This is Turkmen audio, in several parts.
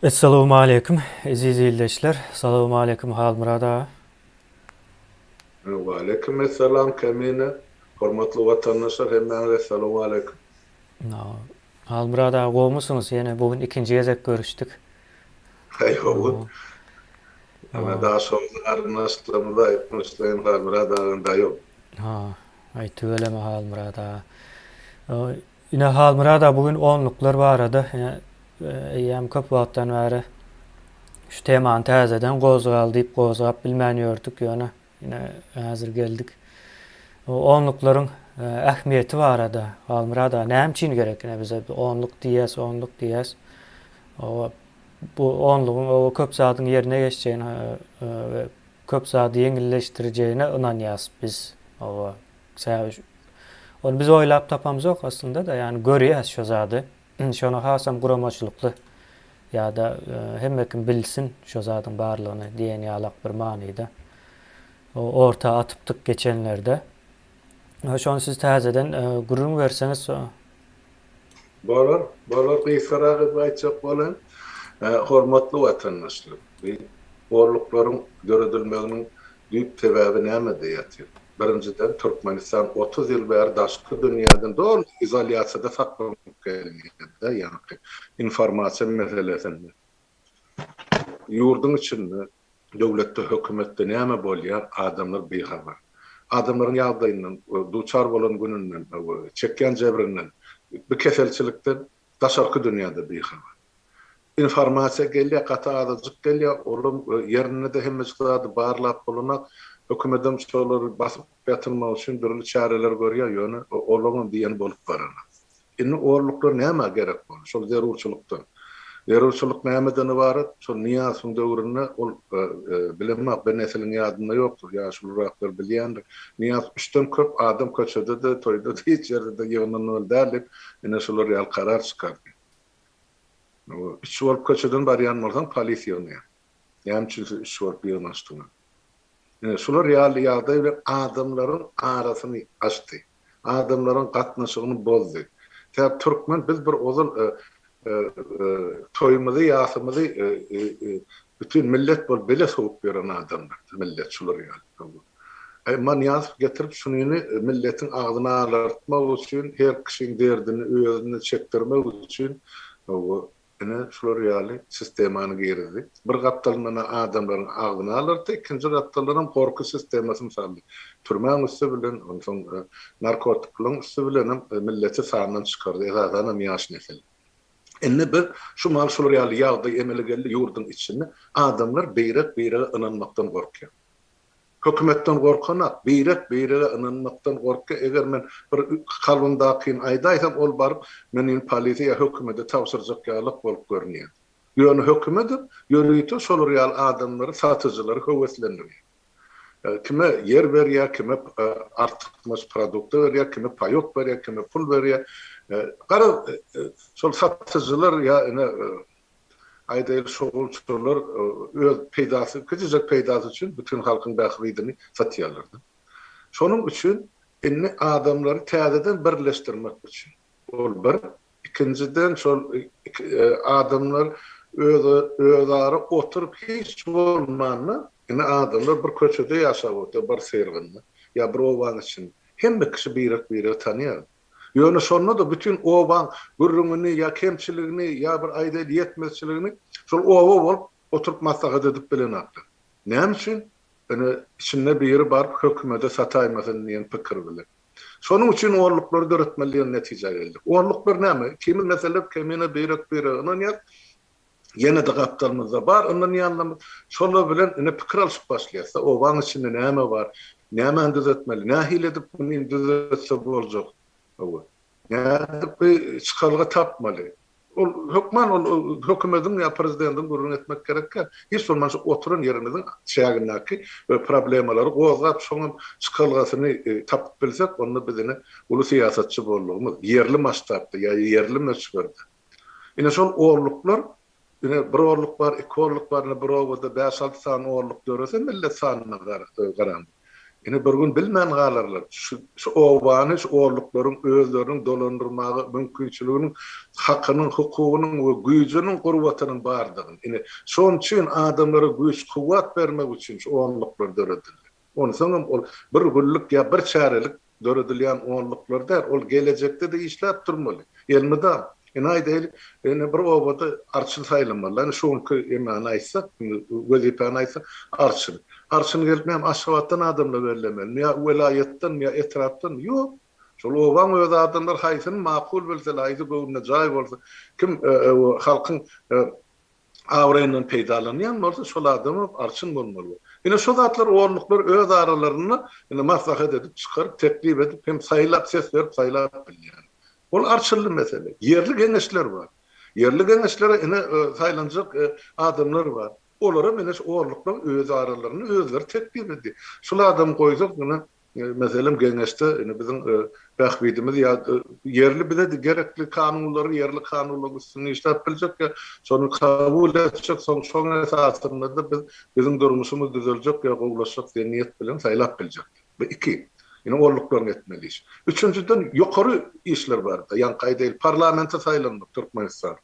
Essalawmaleýkim eziz ildeşler. Salawmaleýkim Halmyrat aga. Waleýkim essalam Kemine. Hormatly watandaşlar hemmäňize essalawmaleýkim. Halmyrat aga gowmysyňyz ýene bu gün ikinji gezek görüşdik. Haýhowut. Ana daşoguzly garyndaşlarymyza aýtmyşlaýyn Halmyrat agam daýow. Ha, aý tüweleme Halmyrat aga. Ine Halmyrat aga bu gün onluklar barada eýýäm köp wagtdan bäri şu temany täzeden gozgal diýip gozgap bilmän ýördük ýöne Ine, häzir geldik onluklaryň ähmiýeti barada. Halmyrat aga, näme üçin gerek ine bize onluk diýýäs, onluk diýýäs. Oba, bu onlugyň oba köp zadyň ýerine geçjegine we köp zady ýeňilleşdirjegine ynanýas biz. Oba, sebäbi ony biz oýlap tapamzok aslynda-da, ýagny görýäs şo zady. Şony hasam guramaçylykly ýa-da hemme kim bilsin şo zadyň barlygyny diýen ýalak bir manyda orta atypdyk geçenlerde. Şony siz täzeden gürrüň berseňiz. Bolar, bolar. Gysgarak edip aýtjak bolaýyn. Hormatly watandaşlar, bu gorluklaryň döredilmeginiň düýp sebäbi nämede ýatyr? Birinjiden, Türkmenistan otuz ýyl bäri daşky dünýäden doly izolýasiýada saklanyp gelýärdi, ýagny informasiýa meselesinde. Ýurduň içinde, döwletde, hökümetde näme bolýar, adamlar bihabar. Adamlaryň ýagdaýyndan, duçar bolan gününden, çekýän jebrinden, bu keselçilikden Daşarky dünýäde bihabar. Informasiýa gelýär, gaty azajyk gelýär, olam ýerinde-de hemmejik zady barlap bolanak, hökümedem şolary basyp ýatyrmak üçin dürli çäreler görýär, ýöne olaňam diýeni bolup baranok. Indi orluklar nämä gerek boldy? Şol zerurçylykdan. Zerurçylyk nämeden ybarat? Şol Nyýazowyň döwründe ol, bilemok, bir nesliň ýadynda ýokdur, ýaşuluraklar bilýändir. Nyýaz üçden köp adam köçede-de, toýda-da, hiç ýerde-de ýygnanmaly däl diýip, ine şular ýaly karar çykardy. Üç bolup köçeden barýan bolsaň polis ýygnaýar. Näme üçin siz üç bolup ýygnanyşdyňyz? Ine şular ýaly ýagdaý bilen adamlaryň arasyny açdy. Adamlaryň gatnaşygyny bozdy. Sebäp türkmen biz bir ozal toýumyzy ýasymyzy bütin millet bolup bile sowup ýören adamlar biz millet şular ýaly. Aý, Manýazow getirip şunyny milletiň agzyny alartmak üçin, her kişiň derdini özüne çekdirmek üçin, hawa, ine, şular ýaly sistemany girizdi. Bir gapdalyndan adamlaryň agzyny alartdy, ikinji gapdaldanam gorky sistemasyny saldy. Türmäň üsti bilen, onsoň narkotiklaryň üsti bilenem milleti sandan çykardy, esasanam ýaş nesil. Indi biz şu mahaly şular ýaly ýagdaý emele geldi, ýurduň içinde adamlar beýrek-beýrege ynanmakdan gorkýar. Hökümetden gorkanak, birek birege ynanmakdan gorkýa eger men bir kalbymdakyny aýdaýsam ol baryp meniň polisiýa ýa hökümede tabşyrjak ýalak bolup görünýä. Ýöne hökümedir ýörite şolar ýaly adamlary satyjylary höweslendirýä. Kime ýer berýä kime artykmaç produkta berýä kime paýok berýä kime pul berýä garaz şol satyjylar ýa ine Aýdaýlyk şo gulçurlar öz peýdasy kiçijek peýdasy üçin bütin halkyň bähbidini satýarlarda. Şonuň üçin indi adamlary täzeden birleşdirmek üçin ol bir ikinjiden şol adamlar öz özara oturyp hiç bolmanda indi adamlar bir köçede ýaşap otyr bir syrygynda ýa bir obanyň içinde hemme kişi birek biregi tanýar. Ýöne şonda-da bütin obaň gürrüňini ýa kemçiligini ýa bir aýdaýly ýetmezçiligini şol oba bolup oturyp maslahat edip bilenokdy. Näme üçin? Ine, içinde biri baryp hökümede sataýmasyn diýen pikir bilen. Şonuň üçin onluklary döretmeli diýen netijä geldik. Onluklar näme? Ikimiz meselem kemine birek-birege ynanýas. Ýene-de gapdalymyzda bar, ondan ýanlamyz. Şolar bilen ine pikir alşyp başlaýasda, obaň içinde näme bar, nämäni düzetmeli, nähili edip muny düzetse boljak, hawa, nädip bir çykalga tapmaly. Ol hökman ol hökümediň ýa prezidentiň gürrüňi etmek gerek däl. Hiç bolmanda şu oturan ýerimiziň çägindäki bir problemalary gozgap, şoňam çykalgasyny tapyp bilsek, onda biz ine uly syýasatçy boldugymyz, ýerli masştabda ýa ýerli möçberde. Ine şol orluklar, ine bir orluk bar, iki orluk bar, ine bir obada bäş-alty sany orluk dörese millet sanyna garaň. Ine bir gün bilmän galarlar. Şu obany, şu orluklaryň özleriniň dolandyrmaga mümkinçiliginiň, hakynyň, hukugynyň we güýjüniň, gurbatynyň bardygyny. Ine şon üçin adamlara güýç-kuwwat bermek üçin şu orluklar döredildi. Onsoňam ol bir günlük ýa bir çärelik döredilýän onluklar däl, ol gelejekde-de işläp durmaly. Elmydam, ine, aýdaýlyk, ine, bir obada arçyn saýlamalylar. Ine, şu günki emany aýtsak, wezipäni aýtsak, arçyn. Arçyny gelip näme, Aşgabatdan adamlar bellemelimi ýa welaýatdanmy ýa etrapdanmy? Ýok. Şol obaň özi adamlar haýsyny makul bilse, haýsy göwnüne jaý bolsa, kim halkyň abraýyndan peýdalanýan bolsa, şol adam hem arçyn bolmaly. Ine, şu zatlar orunluklar öz aralarynda indi maslahat edip, çykaryp, teklip edip hem saýlap, ses berip saýlap bilýär. Ol arçylly mesele. Ýerli geňeşler bar. Ýerli geňeşlere ine, saýlanjak adamlar bar. Olar hem ine, şu orunluklar öz aralarynda özleri teklip edýär. Şul adamy goýsak, ine, Meselem, geňeşde indi biziň bähbidimiz ýa ýerli bize gerekli kanunlary, ýerli kanunlaryň üstünde işläp biljek ýa şony kabul etjek, soň şoň esasynda-da biz biziň durmuşymyz düzeljek ýa gowulaşjak diýen niýet bilen saýlap biljek. Bu iki. Indi olluklaryn etmeli iş. Üçünjiden ýokary işler bardy. Ýaňky aýdaýyl parlamente saýlandyk Türkmenistan.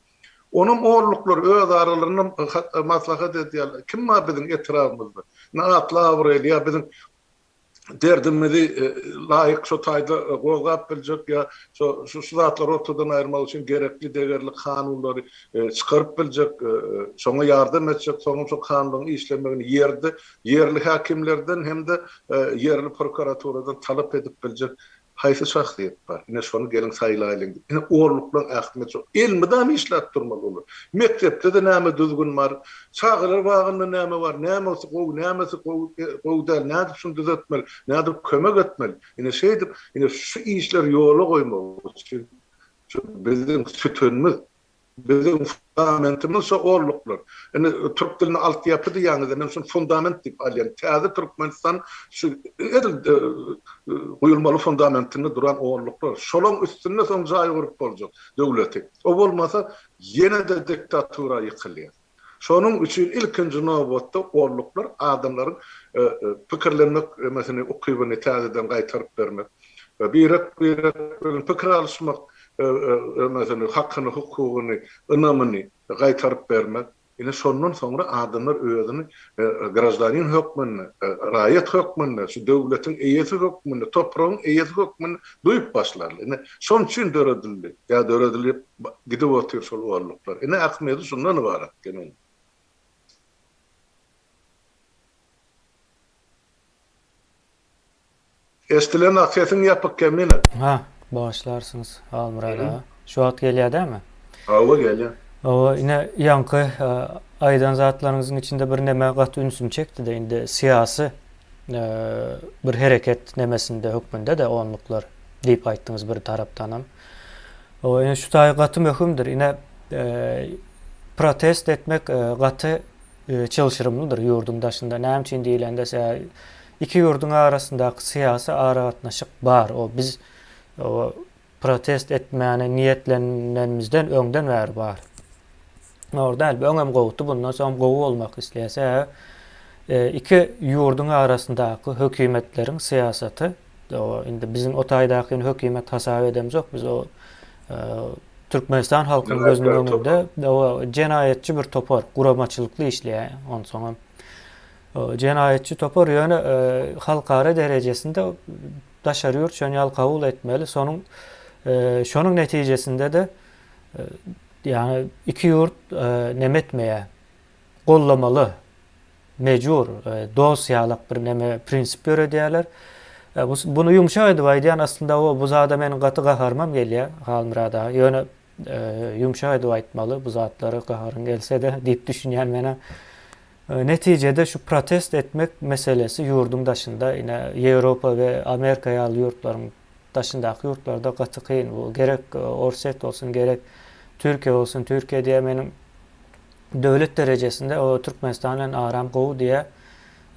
Onuň olluklar öz aralarynda maslahat edýärler. Kim bar biziň etrabymyzda? Indi atly-abraýly ýa biziň derdimizi laýyk şo taýda gozgap biljek ýa şo şu zatlary ortadan aýyrmak üçin gerekli degerli kanunlary çykaryp biljek, şoňa ýardam etjek, soňam şo kanunlaryň işlemegini ýerde ýerli häkimlerden hem-de ýerli prokuraturadan talap edip biljek Haýsy şahsyýet bar? Ine şony geliň saýlaýlyň diýip. Ine orluklan ähtimet şo. Elmydama işläp durmaly olar. Mekdepde-de näme düzgün bar? Çagalar bagynda näme bar? Nämesi gowy, nämesi gowy gowy däl? Nädip şuny düzetmeli? Nädip kömek etmeli? Ine şeýdip, ine şu işleri ýola goýmak üçin şu biziň sütünimiz, Biziň fundamentimiz şo orluklar. Indi türk dilini altyapy diýýäňizde men şuny fundament diýip alýan. Täze Türkmenistan şu edil guýulmaly fundamentinde duran orluklar. Şolaň üstünde soň jaý gurup boljak döwleti. O bolmasa ýene-de diktatura ýykylýar. Şonuň üçin ilkinji nobatda golluklar adamlaryň pikirlenmek emesini, ukybyny täzeden gaýtaryp bermek, birek-birek bilen pikir alyşmak emesini, hakyny, hukugyny, ynamyny gaýtaryp bermek. Ine şondan soňra adamlar özüni graždanin hökmünde, raýat hökmünde, şu döwletiň eýesi hökmünde, topragyň eýesi hökmünde duýup başlarlar. Ine şonuň üçin döredildi ýa döredilip Gidip otyr şol olluklar. Ine Ahmedi şundan ybarat geniň. Eşdilenok sesiň ýapyk kemine. Ha, bagyşlarsyňyz Halmyrat aga. Şu wagt gelýär dämi? Hawa gelýär. Hawa ine ýaňky aýdan zatlaryňyzyň içinde bir neme gaty ünsümi çekdide indi syýasy bir hereket nemesinde hökmünde-de onluklar diýip aýtdyňyz bir tarapdanam. Hawa ine şu taý gaty möhümdir ine protest etmek gaty çylşyrymlydyr ýurduň daşynda näme üçin diýlende se iki ýurduň arasyndaky syýasy aragatnaşyk bar o biz protest etmäne niýetlenenimizden öňden bäri bar zor däl bu öňem gowudy bundan soňam gowy bolmak isleýär sebäbi iki ýurduň arasyndaky hökümetleriň syýasaty Indi biziň o taýdaky hökümet hasap edemzok. Biz o Türkmenistan halkynyň gözüniň öňünde jenaýatçy bir topar, guramaçylykly işleýär. Onsoň jenaýatçy topar ýöne e, halkara derejesinde daşary ýurt şony ýaly kabul etmeli. Sonuň e, şonuň netijesinde de e, ýa iki ýurt nemetmeýär. Gollamaly. Mejbur, dos ýalak bir neme prinsip döredýärler. Buny ýumşak edip aýdýan aslynda o, bu zada meniň gaty gaharymam gelýär, Halmyrat aga. Ýöne ýumşak edip aýtmaly bu zatlara gaharyň gelse-de diýip düşünýän men-ä. Netijede şu protest etmek meselesi ýurduň daşynda, ine, Ýewropa we Amerika ýaly ýurtlaryň daşyndaky ýurtlarda gaty kyn. Bu gerek Orsýet bolsun, gerek Türkiýe bolsun. Türkiýe diýýä meniň Döwlet derejesinde o Türkmenistan bilen aram gowy diýýä.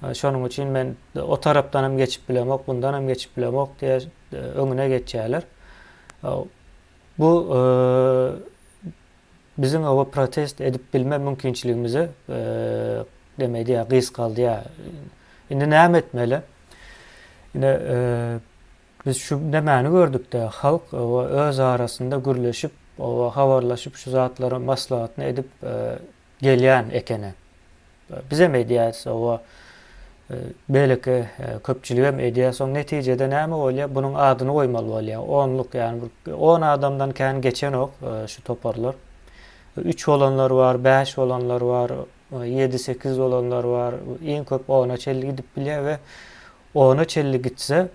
Şonuň üçin men o tarapdanam geçip bilemok, bundanam geçip bilemok diýe öňüne geçýärler. Bu biziň oba protest edip bilme mümkinçiligimizi demek diýä gysgaldýa. Indi näme etmeli? Indi Biz şu nämäni gördükdä, halk öz arasynda gürleşip, habarlaşyp, şu zatlaryň maslahatyny edip gelýän ekeni. Bizem edýäs, beýleki köpçüligem edýär. Soň netijede näme bolýar? Bunuň adyny goýmaly bolýar. Onluk, ýagny bir on adamdan kän geçenok şu toparlar. Üç bolanlar bar, bäş bolanlar bar, ýedi-sekiz bolanlar bar, iň köp ona çenli gidip bilýär we Ona çenli gitse,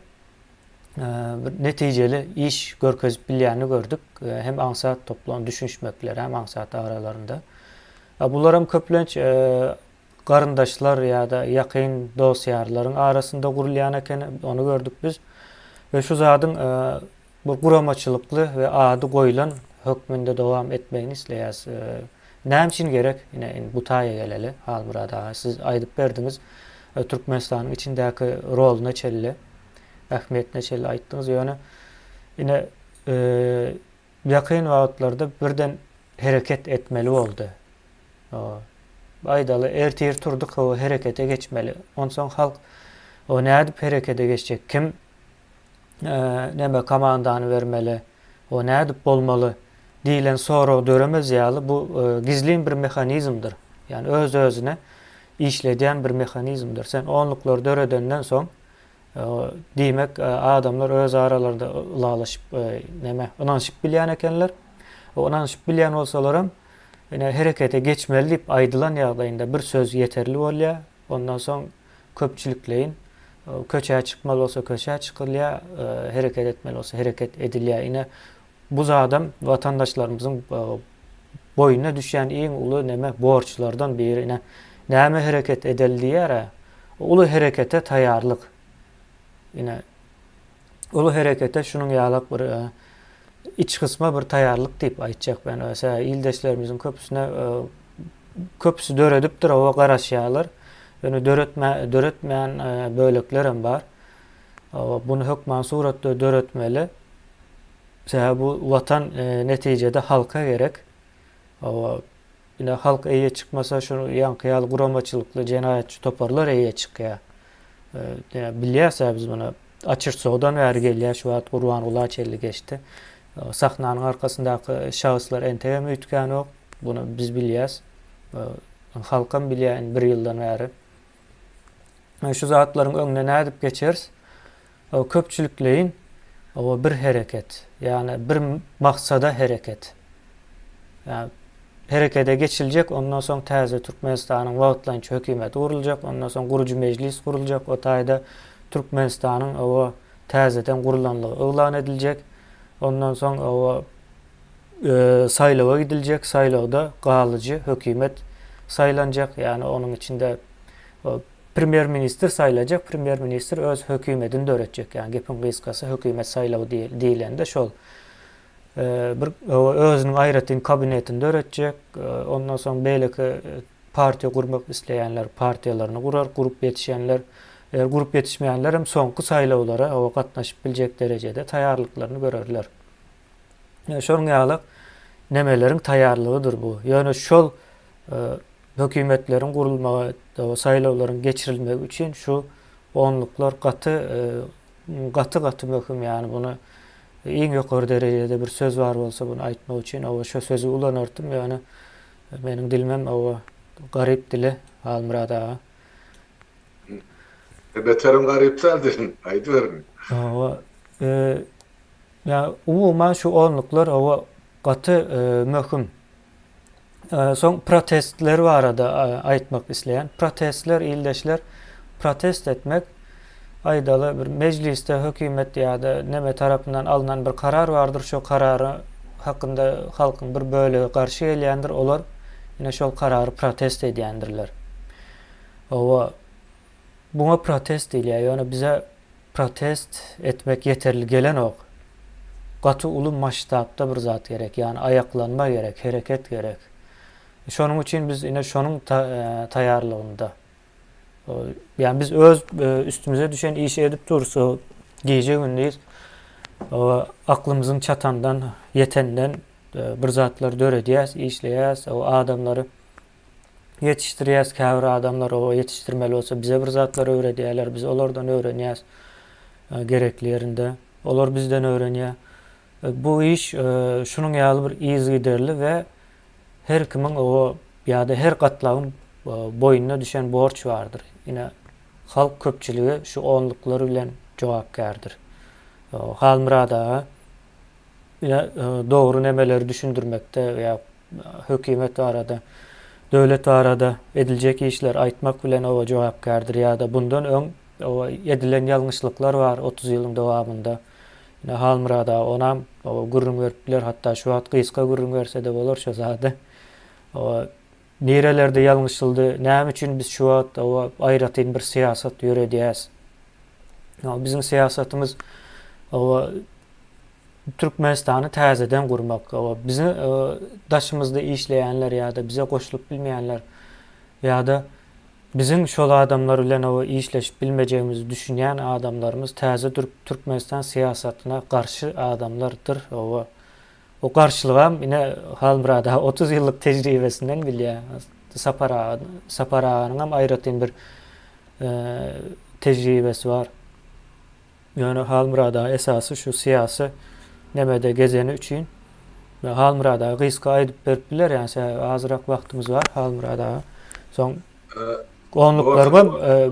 bir netijeli iş görkezip bilýänini gördük. Hem aňsat toplan düşünişmekleri, hem aňsat aralarynda. Bularam köplenç garyndaşlar ýa-da ýakyn dost-ýarlaryň arasynda gurulýan ekeni, ony gördük biz. We şu zadyň Bu guramaçylykly we ady goýlan hökmünde dowam etmegini isleýäs. Näme üçin gerek? Ine, indi bu taýa geleli, Halmyrat aga. Siz aýdyp berdiňiz, Türkmenistanyň içindäki roluna çenli, ähmiýetine çenli aýtdyňyz. Ýöne ine, ýakyn wagtlarda birden hereket etmeli boldy. Aýdaly, ertir turdyk, hawa, herekete geçmeli. Onsoň halk, o nädip herekete geçjek, kim näme komandany bermeli we nädip bolmaly diýlen sorag döremez ýaly bu gizlin bir mehanizmdir. Ýagny öz-özüne işledýän bir mehanizmdir. Sen onluklary döredenden soň diýmek adamlar öz aralarynda ylalaşyp näme ynanyşyp bilýän ekenler. O ynanyşyp bilýän bolsalaram ine herekete geçmeli diýip aýdylan ýagdaýynda bir söz ýeterli bolýar. Ondan soň köpçülikleýin, köçä çykmaly bolsa köçä çykylýar, hereket etmeli bolsa hereket edilýär. Ine, bu zadam watandaşlarymyzyň boýnuna düşýän iň uly näme borçlardan biri. Ine, näme hereket edeli diýýär-ä? Uly herekete taýýarlyk. Ine, uly herekete şunuň ýalak bir iç gysma bir taýýarlyk diýip aýtjak men. Öse ildeşlerimiziň köpüsine köpüsi döredipdir, owa garaşýarlar. Ýöne döretme döretmeýän bölekler hem bar. Bunu hökman suratda döretmeli. Sebäbi bu watan netijede halka gerek. Owa Ine, halk eýe çykmasa, şu ýaňky ýaly guramaçylykly jenaýatçy toparlar eýe çykýar. Bilýäs-ä biz muny. Açyrsodan bäri gelýär, şu wagt Gurbanguly Açelli geçdi. Sahnanyň arkasyndaky şahyslar entegem öýtgänok. Buny biz bilýäs. Halkam bilýär indi bir ýyldan bäri. Şu zatlaryň öňüne nädip geçeris? Ol köpçülikleýin we bir hereket, ýagny bir maksada hereket. Herekete geçiljek, ondan soň täze Türkmenistanyň wagtlaýynça hökümeti guruljak, ondan soň gurujy mejlis guruljak, o taýda Türkmenistanyň oba täzeden gurulanlygy yglan ediljek, ondan soň oba saýlawa gidiljek, saýlawda galyjy hökümet saýlanjak, ýagny onuň içinde Premýer ministr saýlajak premýer ministr öz hökümetini döretjek ýa gepiň gysgasy hökümet saýlawy diýilende şol bir özüniň aýratyn kabinetini döretjek ondan soň beýleki partiýa gurmak isleýänler partiýalaryny gurar gurup ýetişenler eger gurup ýetişmeýänler hem soňky saýlawlara owa gatnaşyp biljek derejede taýýarlyklaryny görerler şonuň ýaly nemeleriň taýýarlygydyr bu ýöne şol Hökümetleriň gurulmagy, saýlawlaryň geçirilmegi üçin şu onluklar gaty gaty gaty möhüm ýany muny iň ýokary derejede bir söz bar bolsa muny aýtmak üçin oba şo sözi ulanardym ýöne meniň dilimem oba garyp dili Halmyrat aga. Beterim garyp däl dilin aýdyberiň. Oba ýa umuman şu onluklar oba gaty möhüm Soň protestler barada aýtmak isleýän. Protestler ildeşler protest etmek aýdaly bir mejlisde hökümet ýa-da neme tarapyndan alnan bir karar bardyr şo karara hakynda halkyň bir bölegi garşy gelýändir olar ine şol karary protest edýändirler. Owa buňa protest diýilýär ýöne bize Protest etmek ýeterli gelenok. Gaty uly masştabda bir zat gerek. Ýagny aýaklanma gerek, hereket gerek. Şonuň üçin biz ine şonuň taýýarlygynda. Ýagny biz öz üstümize düşen işi edip dursa, gije gündiz aklymyzyň çatandan, ýetenden bir zatlar döredýäs, işleýäs, adamlary ýetişdirýäs, käbir adamlar o ýetişdirmeli bolsa bize bir zatlar öwredýärler, biz olardan öwrenýäs gerekli ýerinde, olar bizden öwrenýär. Bu iş şunuň ýaly bir yzygiderli we her kimiň o ýa-da her gatlagyň boýnuna düşen borç bardyr. Ine, halk köpçüligi şu onluklar bilen jogapkärdir. Halmyrat aga ine dogry nemeleri düşündirmekde we Hökümet barada, döwlet barada ediljek işler aýtmak bilen oba jogapkärdir ýa-da bundan öň oba edilen ýalňyşlyklar bar otuz ýylyň dowamynda. Ine, Halmyrat aga onam oba gürrüň berip biler, hatda şu wagt gysga gürrüň berse-de bolar şo zady. Oba nirelerde ýalňyşyldy, näme üçin biz şu wagt oba aýratyn bir syýasat ýöredýäs? Oba biziň syýasatymyz oba Türkmenistany täzeden gurmak we biziň daşymyzda işleýänler ýa-da bize goşulyp bilmeýänler ýa-da biziň şol adamlar bilen işleşip bilmejegimizi düşünýän adamlarymyz täze Türkmenistan syýasatyna garşy adamlardyr we o garşylygam ine Halmyrat aga otuz ýyllyk tejribesinden bilýär. Sapar aga, Sapar aganyňam aýratyn bir tejribesi bar. Ýöne Halmyrat aga esasy şu syýasy nemede gezeni üçin Halmyrat aga gysga aýdyp berip biler ýa sebäbi azyrak wagtymyz bar Halmyrat aga soň onluklarga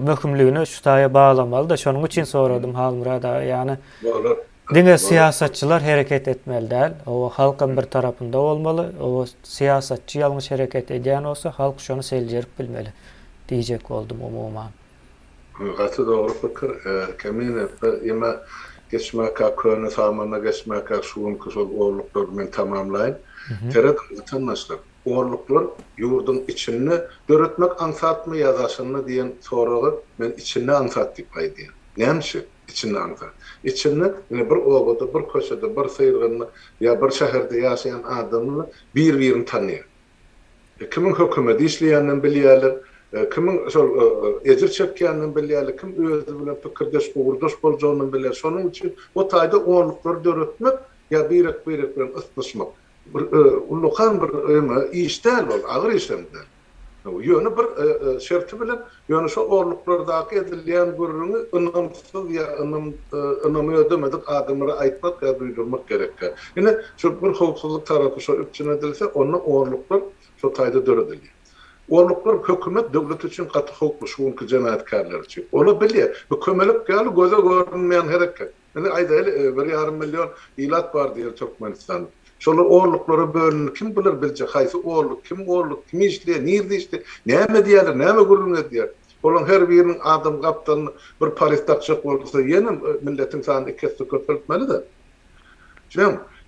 möhümligini şu taýa baglamalyda şonuň üçin soradym Halmyrat aga ýany diňe syýasatçylar hereket etmeli däl oba halkam bir tarapynda bolmaly oba syýasatçy ýalňyş hereket edýän bolsa halk şony seljerip bilmeli diýjek boldum umuman. Gaty dogry pikir Kemine eme geçmäkäk köne samana geçmäkäk şu günki şol orluklary men tamamlaýyn. Serediň watandaşlar orluklar ýurduň içinde döretmek aňsatmy ýa daşynda diýen soraga men içinde aňsat diýip aýdýan. Näme üçin içinde aňsat? Içinde ine bir obada bir köçede bir syrgynda ýa bir şäherde ýaşaýan adamlar bir birini tanýar. Kimiň hökümede işleýändigini bilýärler, kimiň şol ejir çekýändigini bilýärler, kim özi bilen pikirdeş, ugurdaş boljagyny bilýär. Şonuň üçin o taýda onluklary döretmek ýa birek-birek bilen ysnyşmak, bir ullakan bir öňe iş däl ol, agyr iş hem däl. Ýöne bir şerti bilen, Ýöne şo orluklardaky edilýän gürrüňi ynamsyz ýa ynam ynamy ödemedik adamlara aýtmak ýa duýdurmak gerekkä. Ine, şu bir howpsuzlyk tarapy şo üpjün edilse, onda orluklar şo taýda döredilýär. Orluklar hökümet, döwlet üçin gaty howply, şu günki jenaýatkärler üçin. Ola bilýär. Bu kömelek ýaly göze görünmeýän hereket. Indi aýdaýly, bir ýarym million ilat bar diýeli Türkmenistan. Şolar olluklara bölündi. Kim biler biljek, haýsy olluk, kim olluk, kim işleýär, nirde işleýär, näme edýärler, näme gürrüň edýär? Olaryň her biriniň adam gapdalyna bir paryz dakjak bolsa, ýene milletiň sanyny iki esse köpeltmeli-de.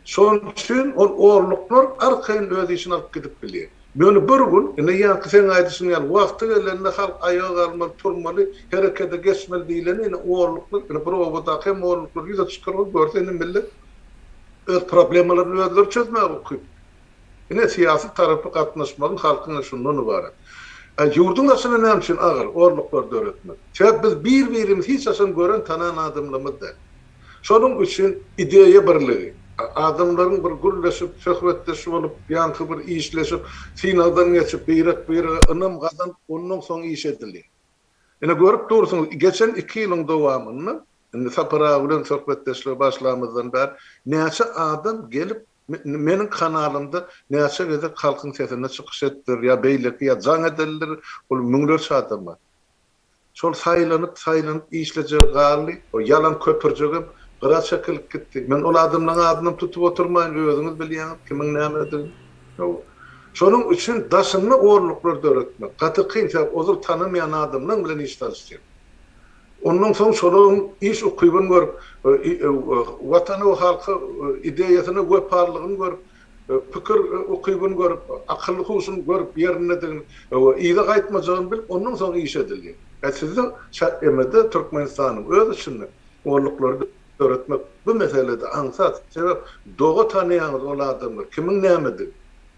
Şonuň üçin ol olluklar arkaýyn öz işini alyp gidip bilýär. Ýöne bir gün, ine, ýaňky seň aýdyşyň ýaly, wagty gelende halk aýaga galmaly, turmaly, herekede geçmeli diýleni, ine, olluklar, ine, bir obadaky hem olluklar ýüze çykar ol, görse, ine, millet öz problemalaryny özleri çözmäge ukyply. Ine, syýasy tarapy gatnaşmagyň halkyň, ine, şundan ybarat. A ýurduň daşyna näme üçin agyr olluklar döretmek? Sebäbi biz bir-birimizi hiç haçan gören, tanan adamlarymyz däl. Şonuň üçin ideýa birligi, adamlaryň bir gürleşip, söhbetdeş bolup, ýaňky bir işleşip, synagdan geçip, birek-birege ynam gazanyp, ondan soň iş edilýär. Ine, görüp dursuňyz, geçen iki ýylyň dowamynda, indi Sapar aga bilen söhbetdeşlige başlamyzdan bäri näçe adam gelip, meniň kanalymda näçe gezek Halkyň sesinde çykyş etdir, ýa beýleki, ýa jaň edildir, ol müňlerçe adam bar. Şol saýlanyp, saýlanyp işlejegi galdy. O ýalan köpürjigem gyra çekilip gitdi. Men ol adamlaň adynam tutup oturmaýyn, özüňiz bilýäňiz kimiň nämedigini. Hawa. Şonuň üçin daşynda orluklar döretmek gaty kyn, sebäp ozal tanamaýan adamlaň bilen iş salyşýar. Ondan soň şolaryň iş ukybyny görüp, Watana we halka ideýasyna wepalylygyny görüp, Pikir ukybyny görüp, akylly huşuny görüp ýerindedigini we yza gaýtmajagyny bilip, ondan soň iş edilýär. Hä sizde ÇMD-de, Türkmenistanyň öz içinde golluklary döretmek bu meselede aňsat, sebäp doga tanaýaňyz ol adamlar kimiň nämedigi,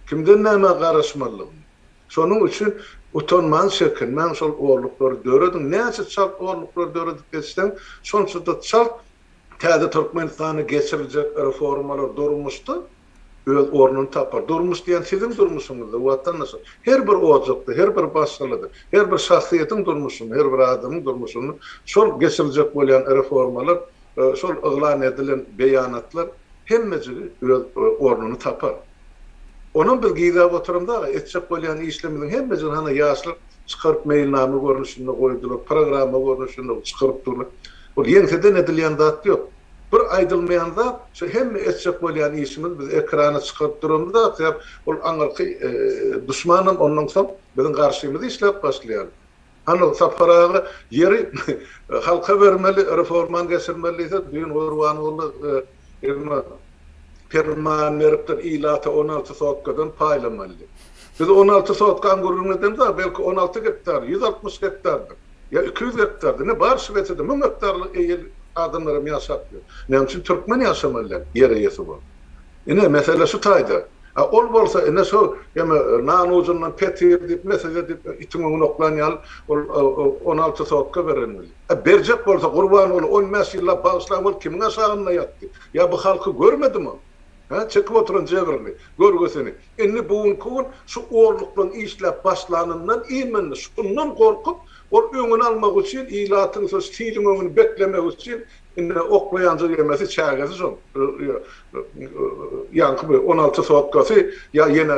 kimden nämä garaşmalydygyny. Şonuň üçin utanmaň, çekinmäň şol golluklary dörediň, näçe çalt golluklary döredip geçseň, şonça-da çalt Täze Türkmenistanda geçiriljek reformalar durmuşda öz ornuny tapar. Durmuş diýen siziň durmuşyňyzdyr, watandaşlar. Her bir ojakda, her bir başgalada, her bir şahsyýetiň durmuşynda, her bir adamyň durmuşynda şol geçiriljek bolýan reformalar, şol yglan edilen beýanatlar hemmejigi öz ornuny tapar. Onam biz gizläp oturamyz aga, etjek bolýan işlerimiziň hemmejigini hana ýaşlar çykaryp meýilnama görnüşinde goýdular, programma görnüşinde çykaryp durlar. Ol ýeňseden edilýän zat ýok. Bir aýdylmaýan zat, şu hemme etjek bolýan işimiz biz ekrana çykaryp duran zat sebäp ol aňyrky duşmanam ondan soň biziň garşymyza işläp başlaýar. Hany Sapar aga ýeri halka bermeli reformany geçirmeli diýse düýn Gurbangully Emma perman beripdir, ilata on alty sotkadan paýlamalydy. Biz on alty sotka aňguryň edemiz, a belki on alty gektar, ýüz altmyş gektardyr, ýa iki ýüz gektardyr, ine, bar şu wehede müň gektarlyk eýeli adamlaram ýaşap ýör. Näme üçin türkmen ýaşamaly däl, ýer eýesi bolup? Ine, mesele şu taýda. A ol bolsa, ine, şol eme nan ujundan petir diýip, mesele diýip, itiň öňüni oklan ýaly, ol on alty sotka berenmeli. A berjek bolsa Gurbanguly on bäş ýyllap bagyşlaň ol kimiň aşagynda ýatdy? Ýa bu halky görmedimi ol? Hä çekip oturan jebrini, görgüsini. Indi bu günki gün şu orluklyň işläp başlanyndan iýmindi. Şundan gorkup ol öňüni almak üçin ilatyň şo siliň öňüni beklemek üçin indi oklaýanja ýemesi çägesi şol. Ýaňky bir on alty sotkasy ýa ýene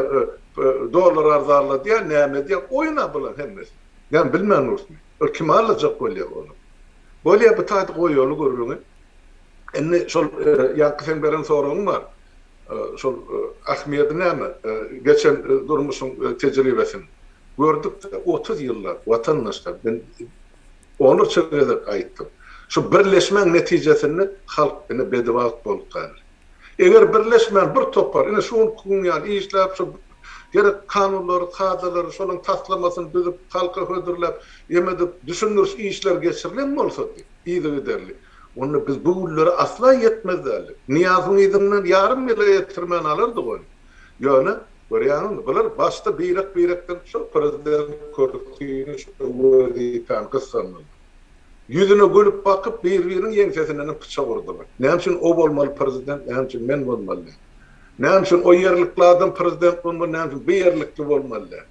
dollar arzarladýa näme edýä oýun-a bular hemmesi. Men bilmen dursun. Ol kim alajak bolýa ony? Bolýa bu taýda goýaly gürrüňi. Indi şol ýaňky seň beren soragyň bar. Şol Ahmedi näme, geçen durmuşyň tejribesini gördük-de, otuz ýyllap watandaşlar, men onlarça gezek aýtdym. Şu birleşmäň netijesinde halk ine bedibagt bolup galdy. Eger birleşmän bir topar, ine şu günki gün ýaly işläp, şu gerek kanunlary, kadalary, şolaryň taslamasyny düzüp, halka hödürläp, emedip, düşündiriş işleri geçirilen bolsady yzygiderli, onda biz bu günlere asla ýetmez däldik. Nyýazyň yzyndan ýarym ýyla ýetirmän alardyk ony. Ýöne, görýäňizmi, bular başda birek-birekden şol prezident kürsüni, şol wezipäni gyssandylar. Ýüzüne gülüp bakyp bir-biriniň ýeňsesinenem pyçak urdylar. Näme üçin o bolmaly prezident, näme üçin men bolmaly däl? Näme üçin o ýerlikli adam prezident bolmaly, näme üçin bu ýerlikli bolmaly däl?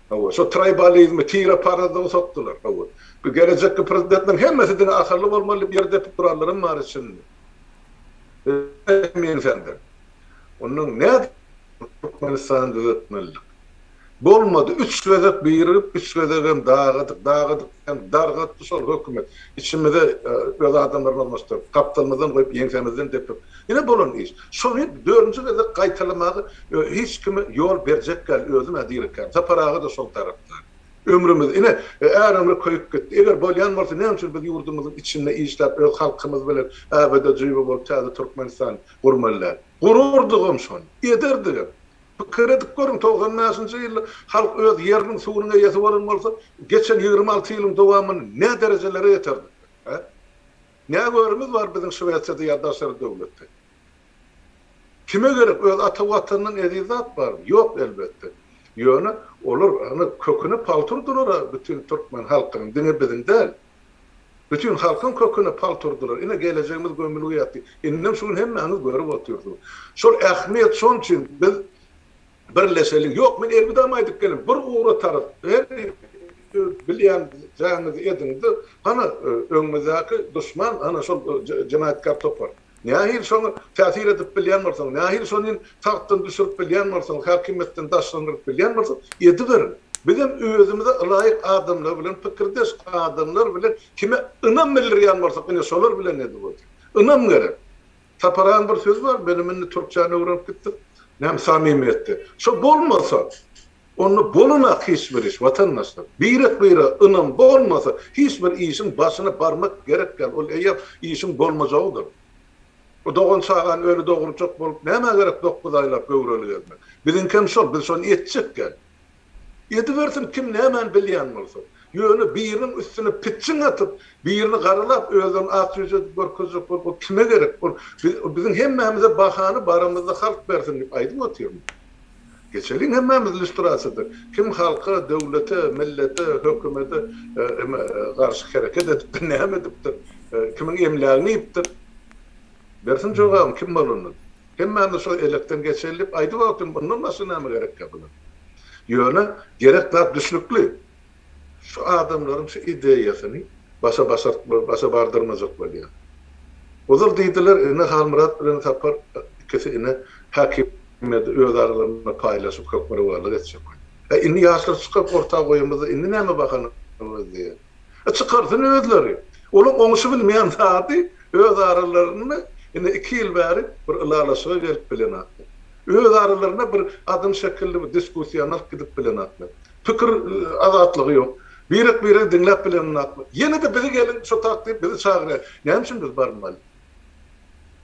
Hawa, şo traýbalizmi, tire parazlygy sokdular. Hawa, bu gelejekki prezidentleriň hemmesi diňe akylly bolmaly diýip ýer depip duranlaram bar içinde. Özüne hem ýeňsändir. Ondan nädip Türkmenistany düzetmelidik? Bolmady, üç gezek birigip, üç gezegem dagadyk, dagadyk diýen dargatdy şol hökümet. Içimize öz adamlaryny ornaşdyryp, gapdalymyzdan goýup, ýeňsämizden depip. Ine bolan iş. Şony dördünji gezek gaýtalamagy hiç kim ýol berjek däl, özüm-ä dirikäm. Sapar aga-da şol tarapda. Ömrümiz, ine, är ömri köýüp gitdi. Eger bolýan bolsa, näme üçin biz ýurdumyzyň içinde işläp, öz halkymyz bilen äbedejibe bolup, täze Türkmenistany Gurmala. Gurardygam şony. Ederdigem. Pikir edip görüň, togsan bäşinji ýylda halk öz ýeriniň, suwunyň eýesi bolan bolsa, geçen ýigrimi alty ýylyň dowamynda nä derejelere ýeterdik biz, hä? Nä görimiz bar biziň Şwesiýada ýa daşary döwletde? Kime gerek, öz ata Watanyndan eziz zat barmy? Ýok, elbetde. Ýöne olar, ana, köküne palturdylar-a bütin türkmen halkynyň, diňe biziň däl. Bütin halkyň köküne palt urdular. Ine, gelejegimiz gömülgä ýatdy. Indem şu gün hemmäňiz görüp otyrsyňyz. Şol ähmiýet, şonuň üçin biz birleşeliň. Ýok, men elwidamy aýdyp gelen. Bir ugra tarap, her öz bilýän zäňizi ediň-de, hana, öňümizdäki duşman, hana, şol jenaýatkär topar. Nähili şoňa täsir edip bilýän bolsaň, nähili şonin tagtdan düşürip bilýän bolsaň, häkimiýetden daşlandyryp bilýän bolsaň, ediberiň. Bizem özümize ylaýyk adamlar bilen, pikirdeş adamlar bilen kime ynam bildirýän bolsak, ine, şolar bilen ediberjek. Ynam gerek. Taparanyň bir sözi bar, benim indi türkçäni öwrenip gitdim. Näme, samimiýetde. Şo bolmasa, Onda bolunak hiç bir iş watandaşlar. Birek bire ynam bolmasa hiç bir işiň başyna barmak gerek däl ol eýýäm işiň bolmajagydyr. Bu dogan çagany öli dogurjak bolup nämä gerek dokuz aýlap göwreli gezmek. Biziňkem şol biz şony etjek däl. Edibersin kim nämäni bilýän bolsa. Ýöne biriniň üstüne pitjiň atyp birini garalap özlerini ak ýüz edip görkezjek bolup ol kime gerek ol biziň hemmämize bahany barymyzda halk bersin diýip aýdyp otyrmy. Geçeliň hemmämiz lýustrasiýada kim halka, döwlete, millete, hökümede garşy hereket edipdir, näme edipdir, kimiň emlägini iýipdir? Bersin jogabyny kim bolanda. Hemmämiz şol elekden geçeli diýip aýdyp otyryn, mundan başga näme gerekkä bular? Ýöne gerek zat düşnükli. Şu adamlaryň şu ideýasyny başa başartma, başa bardyrmajak bolýar. Ozal diýdiler, ine Halmyrat bilen Sapar ikisi ine häkimiýeti öz aralarynda paýlaşyp hökmürowanlyk etjek bolýar. Hä indi ýaşlar çykaryp orta goýamyzda indi näme bahana gözleýäs? E çykarsyn özleri. Olaň oňuşy bilmeýän zady öz aralarynda ine iki ýyl bäri bir ylalaşyga gelip bilenaklar. Öz aralarynda bir adam şekilli bir diskussiýany alyp gidip bilenaklar. Pikir azatlygy ýok. Birek biregi diňläp bilenokmy? Ýene-de bizi geliň şo tak diýip bizi çagyrýar. Näme üçin biz barmaly?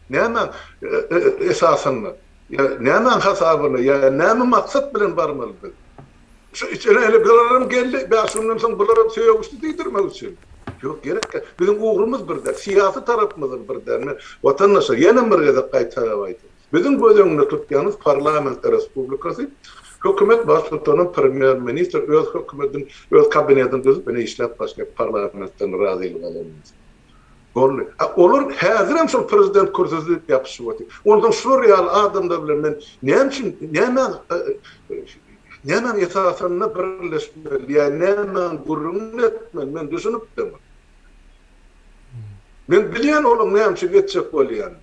Nämäň esasynda? Ýa nämäň hasabyna? Ýa näme maksat bilen barmaly biz? Şu içine ene bularam geldi, bäş günden soň bularam sögüşdi diýdirmek üçinmi? Ýok, gerek ýok. Biziň ugrumyz bir däl. Syýasy tarapymyz-ol bir däl. Watandaşlar, ýenem bir gezek gaýtalap aýdýarys. Biziň göz öňünde tutýanymyz parlament respublikasy, hökümet baştutany, premýer ministr öz hökümetini, öz kabinetini düzüp ine işläp başlaýar parlamentden razylyk alanymyz. Boldy. A olar häzirem şol prezident kürsüsi diýip ýapyşyp otyr. Onsoň şular ýaly adamlar bilen men näme üçin nämäň nämäň esasynda birleşmeli ýa nämäň gürrüňini etmeli men düşünip däl. Men bilýän olaň näme üçin etjek bolýanyny.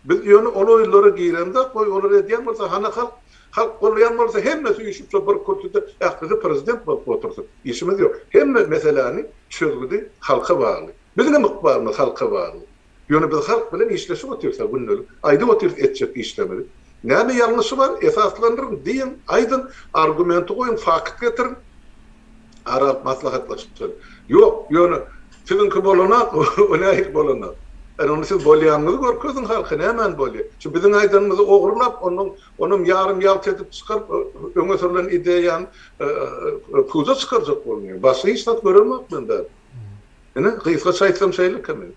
Biz ýöne ol oýlara giremzok, goý olar edýän bolsa, hany halk, halk golýan bolsa hemmesi üýşüp şo bir kürsüde ählisi prezident bolup otursyn. Işimiz ýok. Hemme meseläni çözgüdi halka bagly. Biziňem ykbalymyz halka bagly. Ýöne biz halk bilen işleşip otyrsa gündelik, aýdyp otyrys etjek işlerimizi. Näme ýalňyşy bar? Esaslandyryň, diýiň, aýdyň, argumenti goýuň, fakt getiriň. ara alyp maslahatlaşyp, Ýok, ýöne siziňki bolanok, o nähili bolanok? Ine, onda siz bolýanyňyzy görkeziň halka, nämani bolýar? Şu biziň aýdanymyzy ogurlap, ondan, onam ýarym ýalt edip çykaryp, öňe sürlen ideýany puja çykarjak bolnuň. Başga hiç zat göremok men bäri. Ine, gysgaça aýtsam şeýlekä men.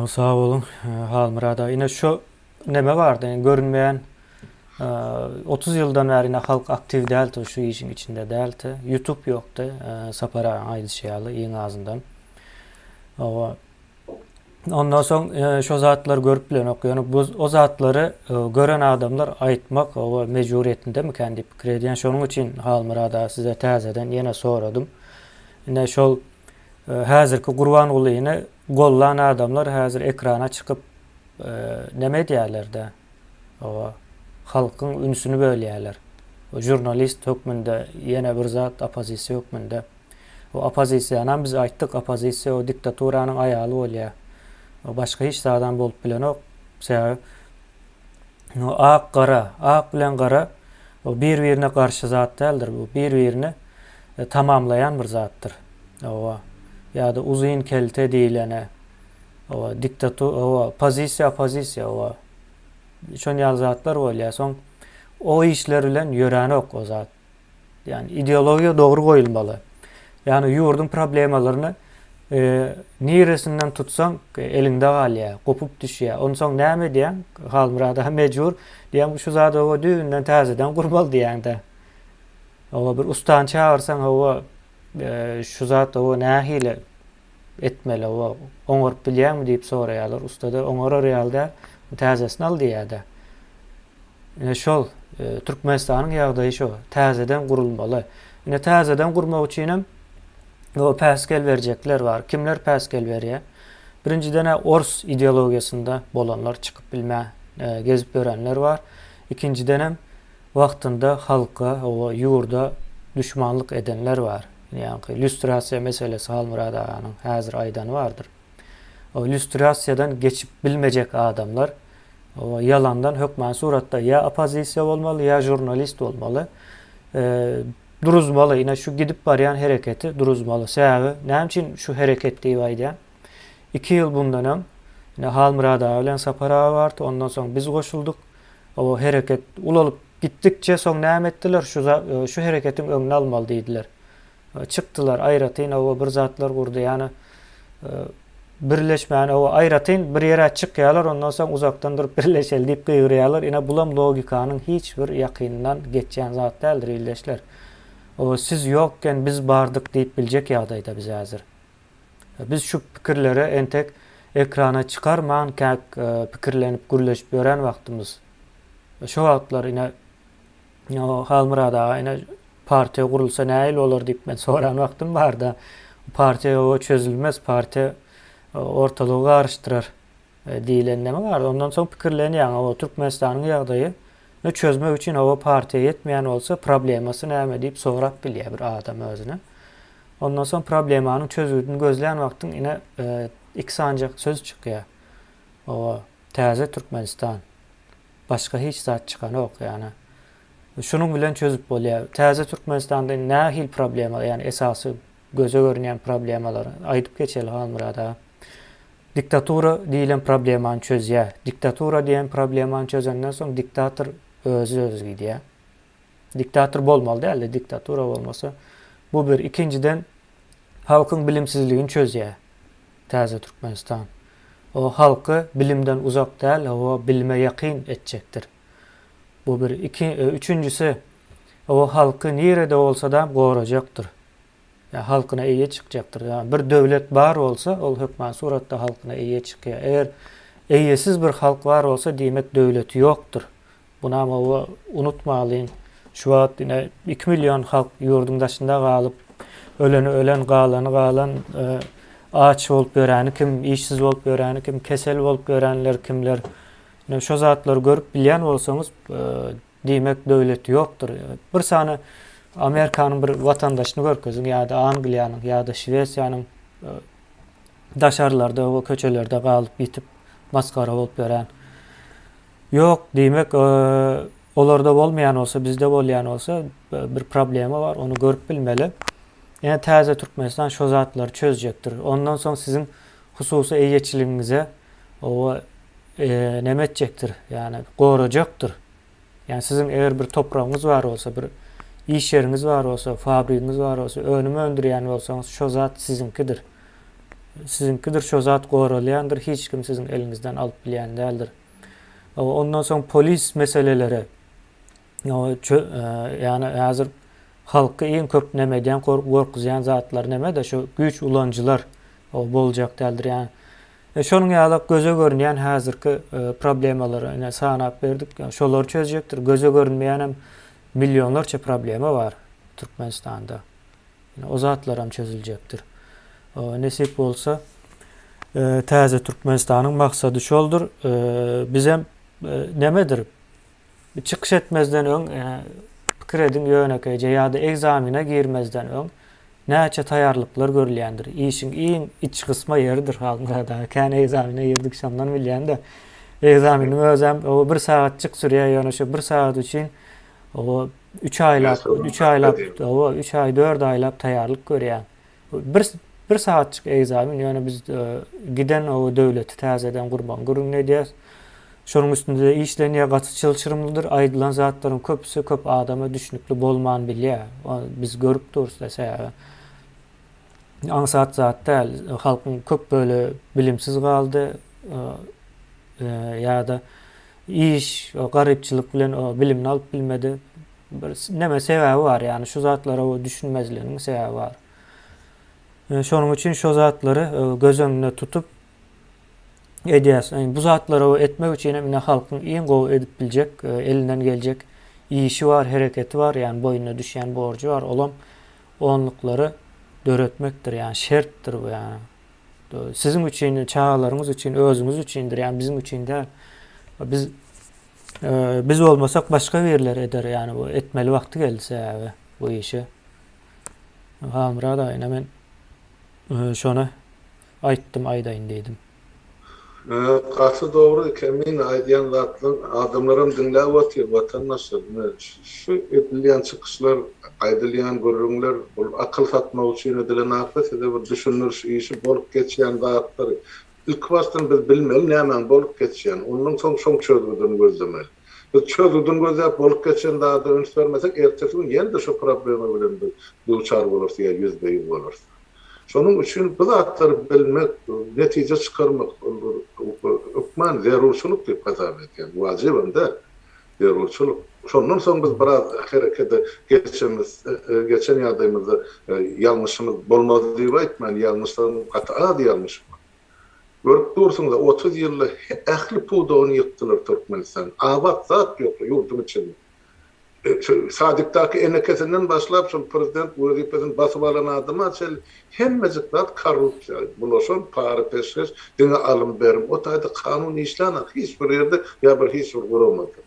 Sag boluň, Halmyrat aga. Ine, şo. Neme bardy görünmeýän otuz ýyldan bäri ine halk aktiw däldi şu işiň içinde däldi ýutup ýokdy Sapar agaň aýdyşy ýaly iň azyndan oba ondan soň şo zatlary görüp bilenok ýöne bu o zatlary gören adamlar aýtmak oba mejburiýetindemikän diýip pikir edýän şonuň üçin Halmyrat aga size täzeden ýene soradym ine şol häzirki Gurbangulyny gollan adamlar häzir ekrana çykyp Näme edýärlerde oba halkyň ünsüni bölýäler we žurnalist hökmünde ýene bir zat opozisiýa hökmünde we opozisiýanam biz aýtdyk opozisiýa o diktaturanyň aýaly bolýa we başga hiç zadam bolup bilenok sebäbi o ak gara ak bilen gara o bir birine garşy zat däldir bu bir birini tamamlaýan bir zatdyr oba ýa-da uzyn kelte diýilene Hawa, diktatu, hawa, pozisiýa, opozisiýa, hawa, şon ýaly zatlar bolýar. Soň o işler bilen ýörenok o zat. Ýani ideologiýa dogry goýulmaly. Ýani ýurduň problemalaryny e, niresinden tutsaň e, eliňde galýar, gopup düşýär. Onsoň näme edýäň? Halmyrat aga mejbur diýýäň, şu zady hawa düýbünden täzeden gurmaly diýýäň-de. Hawa bir ustany çagyrsaň hawa e, şu zat hawa nähili etmeli-ow, oňaryp bilýäňmi diýip soraýarlar. Usta-da, oňarar ýaly däl, täzesini al diýýär-de. Ine şol, Türkmenistanyň ýagdaýy şo, täzeden gurulmaly. Ine täzeden gurmak üçinem o päsgel berjekler bar. Kimler päsgel berýär? Birinjiden-ä ors ideologiýasynda bolanlar çykyp bilmän gezip ýörenler bar. Ikinjidenem wagtynda halka, ow, ýurda duşmanlyk edenler bar. Ýaňky lýustrasiýa meselesi Halmyrat aganyň häzir aýdany bardyr. O lýustrasiýadan geçip bilmejek adamlar o ýalandan hökman suratda ýa oppozisiýa bolmaly ýa žurnalist bolmaly. Duruzmaly ine şu gidip barýan hereketi duruzmaly. Sebäbi näme üçin şu hereket diýip aýdýan? Iki ýyl bundan öň ine Halmyrat aga bilen Sapar aga bardy ondan soň biz goşuldyk. O hereket ulalyp gitdikçe, soň näme etdiler, şu za, şu hereketiň öňüni almaly diýdiler. Çykdylar, aýratyn o bir zatlar gurdy, ýany birleşmäni o aýratyn bir ýere çykýarlar, ondan soň uzakdan durup birleşeli diýip gygyrýarlar. Ine bulam logikanyň hiç bir ýakynyndan geçýän zat däldir ildeşler. O siz ýokken biz bardyk diýip biljek ýagdaýda biz häzir. Biz şu pikirlere entek ekrana çykarman käk pikirlenip gürleşip ýören wagtymyz. Şo wagtlar ine Halmyrat aga ine partiýa gurulsa nähili bolar diýip men soran wagtym barda partiýa ýoga çözülmez partiýa ortalygy garyşdyrar. Diýlen näme bar? Ondan soň pikirlenýäň, hawa, Türkmenistanyň ýagdaýy ny çözmek üçin, hawa, partiýa ýetmeýän bolsa, problemasy näme diýip sorap bilýär bir adam özüne. Ondan soň problemanyň çözgüdini gözlän wagtyň ine, iki sanjak söz çykýar. Hawa, täze Türkmenistan. Başga hiç zat çykanok, ýagny, şunuň bilen çözüp bolýar. Täze Türkmenistanda indi nähili problema, ýagny esasy Göze görünýän problemalary aýdyp geçeli Halmyrat aga. Diktatura diýilen problemany çözýär. Diktatura diýen problemany çözenden soň diktator özi özi gidýär. Diktator bolmaly däldi, diktatura bolmasa. Bu bir. Ikinjiden halkyň bilimsizligini çözýär täze Türkmenistan. O halky bilimden uzak däl, hawa bilime ýakyn etjekdir. Bu bir, iki, üçünjisi, o halky nirede bolsa-da gorajakdyr. Ýa halkyna eýe çykjakdyr. Ýa bir döwlet bar bolsa, ol hökman suratda halkyna eýe çykýar. Eger eýesiz bir halk bar bolsa, diýmek döwleti ýokdur. Bunam oba unutmalyň. Şu wagt ine iki million halk ýurduň daşynda galyp, öleni ölen, galany galan, aç bolup ýöreni kim, işsiz bolup ýöreni kim, kesel bolup ýörenler kimler, Ine şo zatlary görüp bilýän bolsaňyz diýmek döwlet ýokdur. Bir sany Amerikanyň bir watandaşyny görkeziň ýa-da Angliýanyň ýa-da Şwesiýanyň daşarlarda we köçelerde galyp ýitip masgara bolup ýören. Ýok diýmek olarda bolmaýan bolsa bizde bolýan bolsa bir problema bar ony görüp bilmeli. Ine täze Türkmenistan şo zatlary çözjekdir. Ondan soň siziň hususy eýeçiligiňize Oba näme etjekdir? Ýagny gorajakdyr. Ýagny siziň eger bir topragyňyz bar bolsa, bir iş ýeriňiz bar bolsa, fabrigiňiz bar bolsa, önüm öndürýän bolsaňyz, şo zat siziňkidir. Siziňkidir, şo zat goralýandyr, hiç kim siziň eliňizden alyp bilýän däldir. Ondan soň polis meseleleri. Ýagny häzir halky iň köp näme edýän, gorkuzýan zatlar näme-de şu güýç ulanyjylar boljak däldir. Ýagny şonuň ýaly göze görünýän häzirki problemalary ine sanap berdik. Şolary çözjekdir. Göze görünmeýän hem millionlarça problema bar Türkmenistanda. Ine o zatlar hem çözüljekdir. Nesip bolsa täze Türkmenistanyň maksady şoldur. Biz hem nämedir Bir çykyş etmezden öň pikir ediň, ýönekeýje ýa-da ekzamene girmezden öň näçe taýýarlyklar görülýändir? Işiň iň iç gysma ýeridir Halmyrat aga. Kän ekzamene girdik, şondan bilýän-de. Ekzameniň özem oba bir sagatjyk sürýär, ýöne şu bir sagat üçin oba üç aýlap, üç aýlap, oba üç aý, dört aýlap taýýarlyk görýär. Bir bir sagatjyk ekzamen, ýöne biz giden o döwleti täzeden gurmagy gürrüňini edýäris. Şonuň üstünde işlenýär, gaty çylşyrymlydyr. Aýdylan zatlaryň köpüsi köp adama düşnükli bolman bilýär. Biz görüp durus-da, sebäbi aňsat zat däl. Halkyň köp bölegi bilimsiz galdy. Ýa-da iş, garypçylyk bilen bilimini alyp bilmedi. Bir neme sebäbi bar ýagny şu zatlara düşünmezliginiň sebäbi bar. E, şonuň üçin şu zatlary e, göz öňünde tutup edýäs. E, bu zatlary etmek üçin hem ine halkyň iň gowy edip biljek, e, elinden geljek işi bar, hereketi bar, ýagny boýnuna düşýän borjy bar. Olam onluklary döretmekdir, ýagny şertdir bu ýagny. Siziň üçin, çagalaryňyz üçin, özüňiz üçindir, ýagny biziň üçin däl. Biz Biz bolmasak başga birleri eder yani bu etmeli wagty geldi sebäbi bu işi. Halmyrat aýyna men e, şony aýtdym aýdaýyn diýdim. Gaty dogry eken meň aýdýan zatlaryň adamlaram diňläp otyr watandaşlar ine şu edilýän çykyşlar aýdylýan gürrüňler bul akyl satmak üçin edilen zat da size bir düşündiriş işi bolup geçýän zatlar Ilkibaşdan biz bilmeli nämäň bolup geçýänini, ondan soň şoň çözgüdini gözlemeli. Biz çözgüdini gözläp bolup geçen zada üns bermesek, ertesi gün ýene-de şu problema bilen biz duçar bolarys ýa ýüzbe-ýüz bolarys. Şonuň üçin bu zatlary bilmek, netije çykarmak, ol bir hökman zerurçylyk diýip hasap edýän, wajybam däl. Zerurçylyk. Şondan soň biz biraz herekede geçemiz, geçen ýagdaýymyzda ýalňyşymyz bolmaz diýip aýtmaýyn, ýalňyşlarym gaty az ýalňyşym bar. Görüp dursuňyz-a, otuz ýylda ähli pudagyny ýykdylar Türkmenistanyň. Abat zat ýok ýurduň içinde. Sadikdaky enekesinden başlap, şol prezident wezipesini basyp alan adama çenli Hemmejik zat korrupsiýa bulaşan, para-peşgeş, diňe alym-berim. O taýda kanun işlänok hiç bir ýerde ýa bir hiç bir guramada.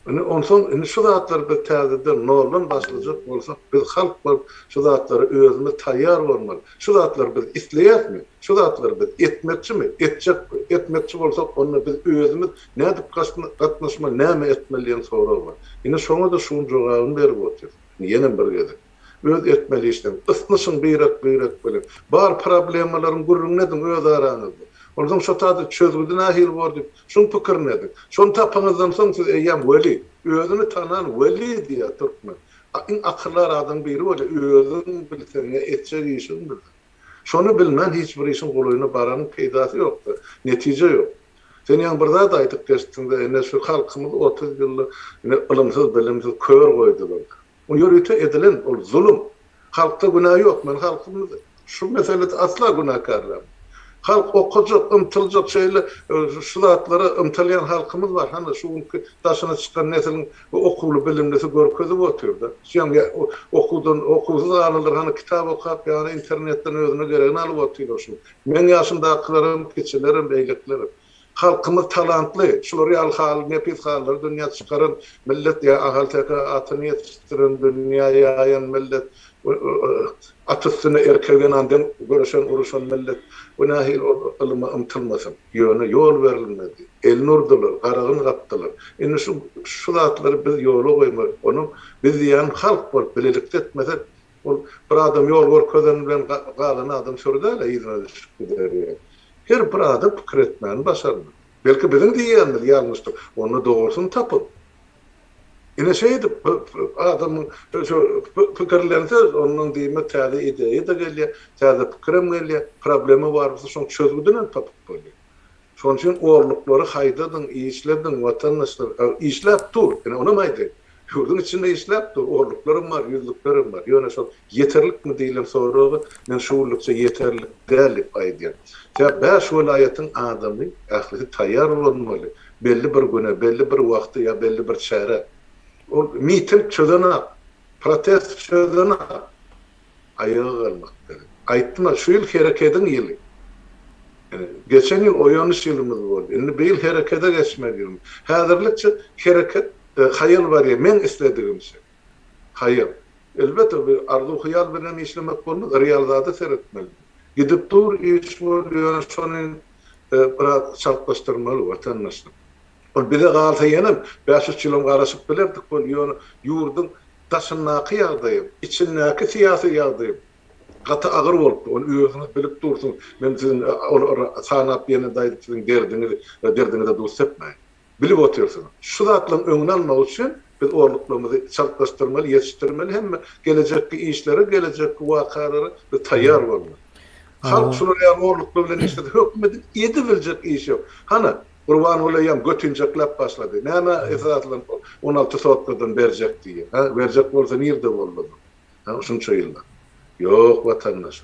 Indi onsoň indi şu zatlary biz täzeden, noldan başlajak bolsak, biz halk bolup şu zatlara özümiz taýýar bolmaly. Şu zatlary biz isleýäsmi? Şu zatlary biz etmekçimi? Etjek, etmekçi bolsak, onda biz özümiz nädip gatnaşmaly, näme etmeli diýen sorag bar. Ine şoňa-da şu gün jogabyny berip otyrys. Indi ýenem bir gezek. Öz etmeli işleň. Ysnyşyň birek-birek bilen. Bar problemalaryň gürrüňini ediň öz araňyzda. Ondan soň şo taýda çözgüdi nähili bor diýip, şuň pikirini ediň. Şony tapanyňyzdan soň siz eýýäm weli, özüni tanan weli diýýär türkmen. Iň akyldar adam biri bolýar, özüň bilseň ýa etjek işiň bilseň. Şony bilmän hiç bir işiň golaýyna baranyň peýdasy ýokda, netije ýok. Sen ýaňy bir zat aýdyp geçdiňda, ine şu halkymyz otuz ýylda ine ylymsyz-bilimsiz kör goýdular. O ýörite edilen ol zulum. Halkda günä ýok. Men halkymyz şu meselede asla günäkärlämok. Halk okajak, ymtyljak. Şeýle şu zatlara ymtylýan halkymyz bar. Hany şu günki daşyna çykan nesliň okuwly, bilimlisi görkezip otyrda. Şuýam okuwdan okuwsyz galanlar hany kitap okap ýa-da internetden özüne geregini alyp otyrlar şu gün. Meň ýaşymdakylaram, kiçilerem, beýlekilerem. Halkymyz talantly, şular ýaly haly nepis halylary dünýä çykaran millet diýýär, ahalteke atyny ýetişdiren, dünýä ýaýan millet, at üstünde erkek zenan deň göreşen, uruşan millet, bu nähili ol ylyma ymtylmasyn? Ýöne ýol berilmedi, elini urdular, garagyn gapdylar. Indi şu şu zatlary biz ýola goýmaly, onuň biz diýýän halk bolup bilelikde etmesek, Ol bir adam ýol görkezeni bilen galan adam süri däl-ä yzyna düşüp gider ýa. Her bir adam pikir etmäni başarmaly. Belki biziň diýýänimiz ýalňyşdyr. Onda dogrusyny tapyň. Ine şeýdip adamyň şu pikirlense ondan diýmek täze ideýa-da gelýär, täze pikirem gelýär, problema barmysa şoň çözgüdinem tapyp bolýar. Şonuň üçin orluklary haýdadyň, işlediň, watandaşlar. Ag, işläp dur, ine, onam aýdaýyn. Ýurduň içinde işläp dur, orluklaram bar, ýüzlüklerem bar. Ýöne şol ýeterlikmi diýlen soraga men şu günlükçe ýeterlik däl diýip aýdýan. Sebäbi bäş welaýatyň adamy, ählisi taýýar bolunmaly. Belli bir güne, belli bir wagta ýa belli bir çärä. Ol miting çözenak, protest çözenak. Aýaga galmak gerek. Aýtdyma, şu ýyl herekediň ýyly. Ýöne, geçen ýyl oýanyş ýylymyz boldy. Indi bu ýyl herekede geçmeli ýylymyz. Häzirlikçe hereket, haýal barýar, meň isledigimçe. Haýal. Elbetde, bu arzuw-hyýal bilen işlemek bolmaz, real zada seretmeli. Gidip dur, iş bol, ýöne şony biraz çaltlaşdyrmaly, watandaşlar. Ol bize galsa ýene bäş üç ýylam garaşyp bilerdik boldy, ýöne ýurduň daşyndaky ýagdaýam, içindäki syýasy ýagdaýam gaty agyr bolupdy, ony özüňiz bilip dursuňyz, men siziň olary sanap ýene daýzyp siziň derdiňizi we derdiňize duz sepmäýin. Bilip otyrsyňyz. Şu zatlaryň öňüni almak üçin biz orluklarymyzy çaltlaşdyrmaly, ýetişdirmeli, hemme gelejekki işlere, gelejekki wakalara biz taýýar bolmaly. Halk şular ýaly orluklar bilen işlese, hökümetiň edebiljek işi ýok. Hana, Gurbanguly eýýäm götinjekläp başlady. Nämä esasylan ol on alty sotkadan berjek diýýär, hä? Berjek bolsa nirde boldy o zaman, hä, şunça ýyllap? Ýok, watandaş.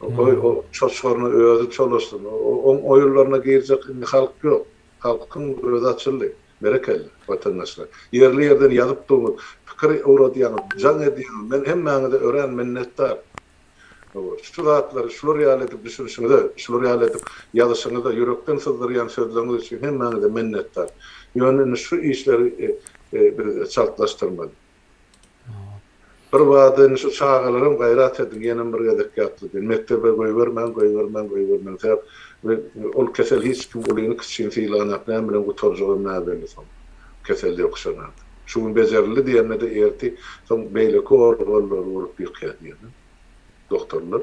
Goý, o çoçgaryny özi çolaşsyn. Oň oýunlaryna girjek indi halk ýok. Halkyň özi açyldy. Berekella, watandaşlar. Ýerli ýerden ýazyp durňyz, pikir ugradýaňyz, jaň edýäňiz. Men hemmäňize örän minnetdar. Şu zatlary şular ýaly edip düşünişiňize, şular ýaly edip ýazyşyňyza, ýürekden syzdyrýan sözleriňiz üçin hemmäňize minnetdar. Ýöne indi şu işleri biz çaltlaşdyrmaly. Birbada indi şu çagalaram gaýrat ediň, ýenem bir gezek ýatly diýin. Mekdebe goýbermäň, goýbermäň, goýbermäň. Sebäp ol kesel hiç kim ulyny-kiçini sylanok, näme bilen gutarjagam näbelli soň. Kesel ýokuşanarda. Şu gün bejerildi diýende-de erti soň beýleki organlary urup ýykýar diýýärler doktorlar.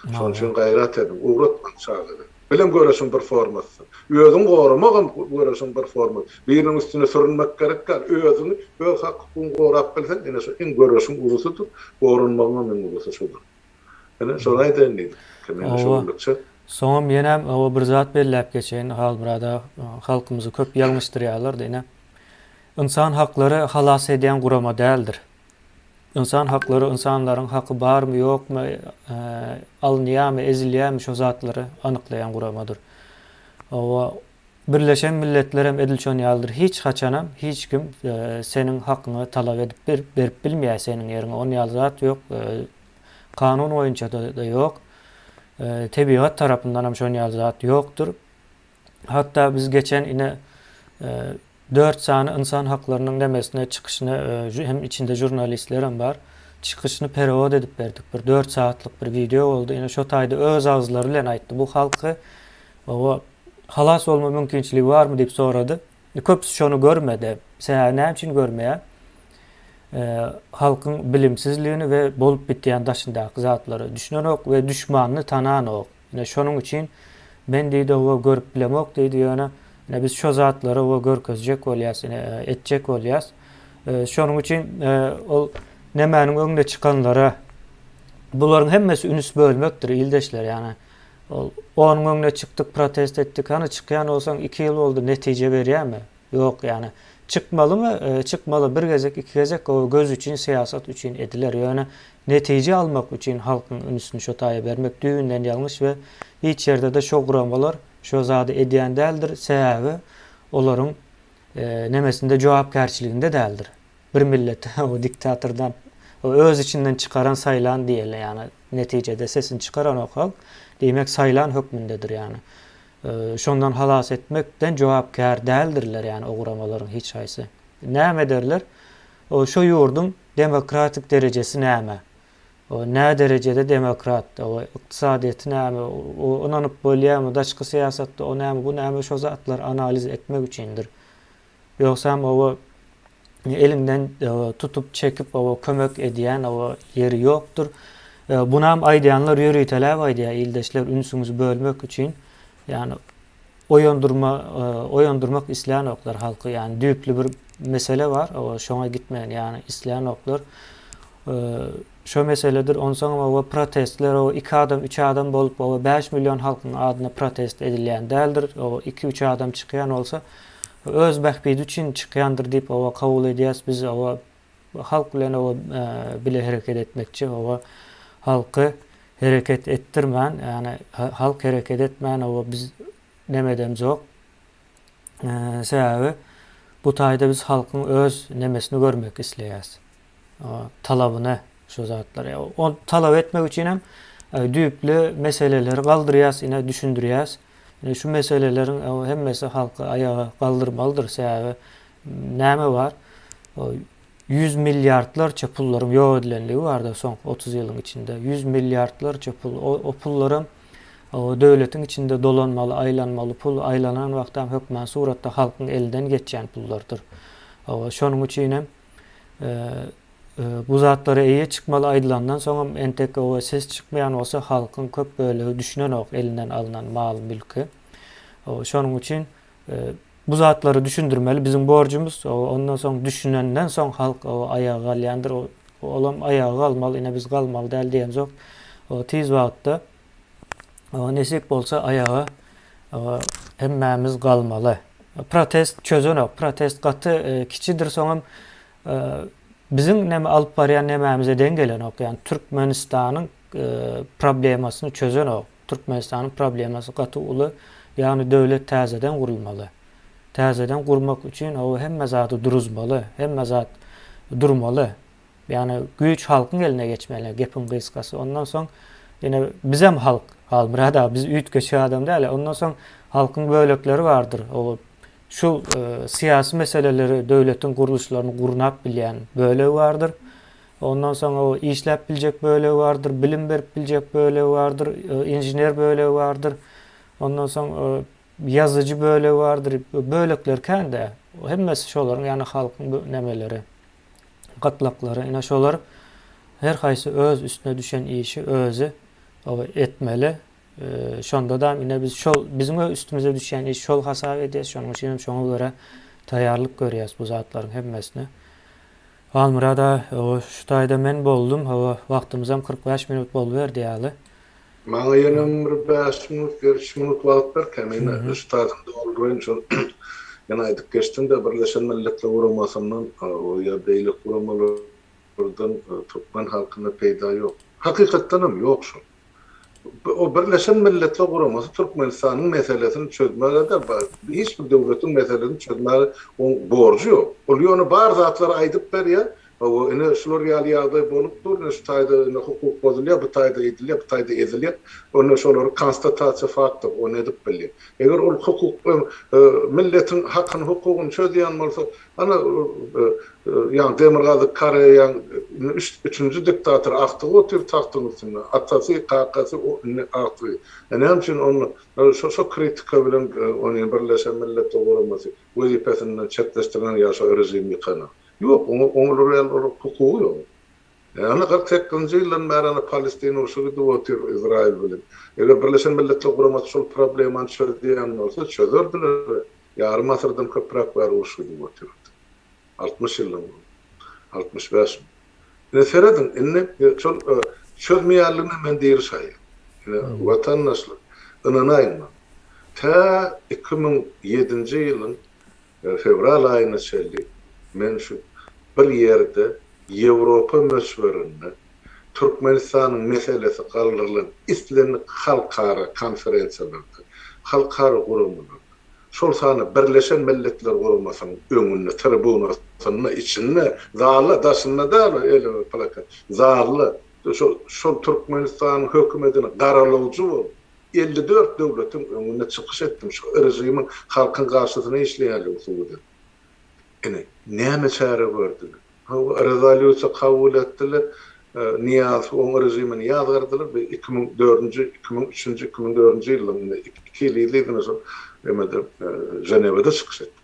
Şonuň üçin gaýrat ediň, ugratmaň çagada. Bilim göreşiň bir formasydyr. Özüňi goramagam göreşiň bir formasy. Biriniň üstüne sürünmek gerek däl. Özüňi, öz hak-hukugyňy gorap bilseň, ine şu iň göreşiň ulusydyr, goranmagyňam iň ulusy şudur. Ine, şony aýdaýyn diýdim. Kemine şu günlükçe. Soňam ýenem oba bir zat belläp geçeýin. Halmyrada halkymyzy köp ýalňyşdyrýarlar-da ine. Ynsan haklary halas edýän gurama däldir. Ynsan haklary ynsanlaryň haky barmy, ýokmy, alynýarmy, ezilýärmi şo zatlary anyklaýan guramadyr. Oba Birleşen Milletlerem edil şon ýalydyr. Hiç haçanam hiç kim seniň hakyňy talap edip berip bilmeýär seniň ýeriňe. On ýaly zat ýok. Kanun boýunça-da ýok. Tebigat tarapyndanam şon ýaly zat ýokdur. Hatda biz geçen ine dört sany ynsan haklarynyň nemesine çykyşyna hem içinde žurnalistlerem bar. Çykyşyny perewod edip berdik. Bir dört sagatlyk bir wideo boldy. Ine şo taýda öz agzyzlary bilen aýtdy. Bu halky oba halas bolma mümkinçiligi barmy diýip sorady. Indi köpüsi şony görmedi. Sebäbi näme üçin görmeýär? Halkyň bilimsizligini we bolup bitýän daşyndaky zatlary düşünenok we düşmanyny tananok. Ine şonuň üçin men diýdi oba görüp bilemok diýdi ýöne ine biz şo zatlary oba görkezjek bolýas ine etjek bolýas. Şonuň üçin ol nemäniň öňüne çykanlara bularyň hemmesi ünüs bölmekdir ildeşler ýagny. Ol, Onuň öňüne çykdyk, protest etdik. Hany, çykýan bolsaň, iki ýyl boldy, netije berýärmi? Ýok, ýani. Çykmalymy? Çykmaly. Bir gezek, iki gezek gowy göz üçin, syýasat üçin ediler. Ýöne netije almak üçin halkyň ünsüni şo taýa bermek düýbünden ýalňyş we hiç ýerde-de şo guramalar şo zady edýän däldir, sebäbi olaryň nemesinde, jogapkärçiliginde däldir. Bir millet o diktatordan o öz içinden çykaran saýlan diýeli ýagny netijede sesini çykaranok halk diýmek saýlan hökmündedir ýagny şondan halas etmekden jogapkär däldirler ýagny o guramalaryň hiç haýsy näme ederler o şo ýurduň demokratik derejesi näme o nä derejede demokrat o ykdysadyýeti näme o ynanyp bolýamy daşky syýasatda o näme bu näme şo zatlar analiz etmek üçindir. Ýogsam oba eliňden tutup çekip oba kömek edýän oba ýeri ýokdur. Bunam aýdýanlar ýöriteläp aýdýar ildeşler ünsüňizi bölmek üçin ýani oýandyrma oýandyrmak islänoklar halky ýani düýpli bir mesele bar oba şoňa gitmegini ýani islänoklar. Şo meseledir onsaňam oba protestler oba iki adam üç adam bolup oba bäş million halkyň adyna protest edilýän däldir oba iki üç adam çykýan bolsa öz bähbidi üçin çykýandyr diýip oba kabul edýäs biz oba halk bilen oba bile hereket etmekçi oba halky hereket etdirmän ýagny halk hereket etmän oba biz nemedemzok sebäbi bu taýda biz halkyň öz nemesini görmek isleýäs. talabyna şu zatlar. O talap etmek üçin hem düýpli meseleleri galdyrýas, ine düşündirýäs. Ine şu meseleleriň hemmesi halky aýaga galdyrmalydyr. Sebäbi näme bar? 100 milliardlarça pullaryň ýok edilenligi barda soňky 30 ýylyň içinde. 100 milliardlarça pul. O, o pullaram o döwletiň içinde dolanmaly, aýlanmaly pul, aýlanan wagtam hökman suratda halkyň elinden geçýän pullardyr. O, şonuň üçin hem bu zatlara eýe çykmaly aýdylandan soňam entek oba ses çykmaýan bolsa halkyň köp bölegi düşünenok elinden alnan mal mülki. Şonuň üçin bu zatlary düşündirmeli biziň borjumyz. Ondan soň düşünenden soň halk aýaga galýandyr. Olam aýaga galmaly, ine biz galmaly däl diýen zok. Tiz wagtda Oňa nesip bolsa aýaga hemmämiz galmaly. Protest çözenok. Protest gaty e, kiçidir soňam e, biziň näme alyp barýan nämämize deň gelenok. Ýani Türkmenistanyň e, problemasyny çözenok. Türkmenistanyň problemasy gaty uly. Ýani döwlet täzeden gurulmaly. Täzeden gurmak üçin o hemme zady duruzmaly, hemme zat durmaly. Ýagny güýç halkyň eline geçmeli gepiň gysgasy. Ondan soň ýene bizem halk Halmyrat aga biz üýtgeşik adam däl. Ondan soň halkyň bölekleri bardyr. Ow şu syýasy meseleleri döwletiň gurluşlaryny gurnap bilýän bölegi bardyr. Ondan soň ow işläp biljek bölegi bardyr, bilim berip biljek bölegi bardyr, inžener bölegi bardyr. Ondan soň ýazyjy bölegi bardyr. Bölekler kän-de. Hemmesi şolaryň ýagny halkyň nemeleri. gytlaklary, ine, şolar her haýsy öz üstüne düşen işi özi etmeli. Şonda-da ine biz şol biziň üstümize düşýän iş şol hasap edýäs. Şonuň üçin hem şoňa görä taýýarlyk görýäs bu zatlaryň hemmesine. Halmyrat aga, şu taýda men boldum. Hawa, wagtymyzam kyrk bäş minut boluberdi ýaly. Maňa ýenem bir bäş minut ýa üç minut wagt ber kemine, üstadyny dolduraýyn şol ýene aýdyp geçdiňdä Birleşen Milletler Guramasyndan ýa beýleki guramalardan türkmen halkyna peýda ýok. Hakykatdanam ýok şol. O Birleşen Milletler Guramasy Türkmenistanyň meselesini çözmäge däl hiç bir döwletiň meselesini çözmäge oň borjy ýok. Ol ýöne bar zatlary aýdyp berýär, Hawa, ine, şular ýaly ýagdaý bolup dur. Ine, şu taýda indi hukuk bozulýar, bu taýda edilýär, bu taýda ezilýär. Onda şolary konstatasiýa faktów, ony edip bilýär. Eger ol hukuk, milletiň hakyny, hukugyny çözýän bolsa, ana, ýa Demirgazyk Koreýaň üçünji diktatory agtygy otyr tagtyň üstünde, atasy, kakasy, indi agtygy. E, näme üçin onda şo-şo kritika bilen ony Birleşen Milletler Guramasy wezipesinden çetleşdirýän ýa şo režim ýykanan? Ýok, oňa oňluraýan hukugy ýok. Ýagny kyrk sekizinji ýyldan bäri Palestina urşy gidip otyr Izraýyl bilen. Eger Birleşen Milletler Guramasy şol problemany çözýän bolsa, çözerdiler. Ýarym asyrdan köpräk bäri uruş gidip otyrdy. Altmyş ýyldan gowumy? Altmyş bäş mi? Ine serediň, indi şol çözmeýänligine men diri şaýat. Ine watandaşlar, ynanaýyň maňa. Tä iki müň ýedinji ýylyň Fewral aýyna çenli men şu bir ýerde Ýewropa möçberinde Türkmenistanyň meselesi galdyrylan islendik halkara konferensiýalarda, halkara guramalarda, şol sanda Birleşen Milletler Guramasynyň öňünde, tribunasynda, içinde, zalda, daşynda däl, elime plakat, zalda, şol Türkmenistanyň hökümetine garalawjy boldum. Elli dört döwletiň öňünde çykyş etdim, şu režimiň halkyň garşysyna işleýändigini subut etdim. Ine, näme çäre gördüler? Hawa, rezolýusiýa kabul etdiler, Nyýazow oň režimini ýazgardylar, bu iki müň dördünji, iki müň üçünji, iki müň dördünji ýylda, iki ýyl yzly-yzyna şol emede, Ženewada çykyş etdim.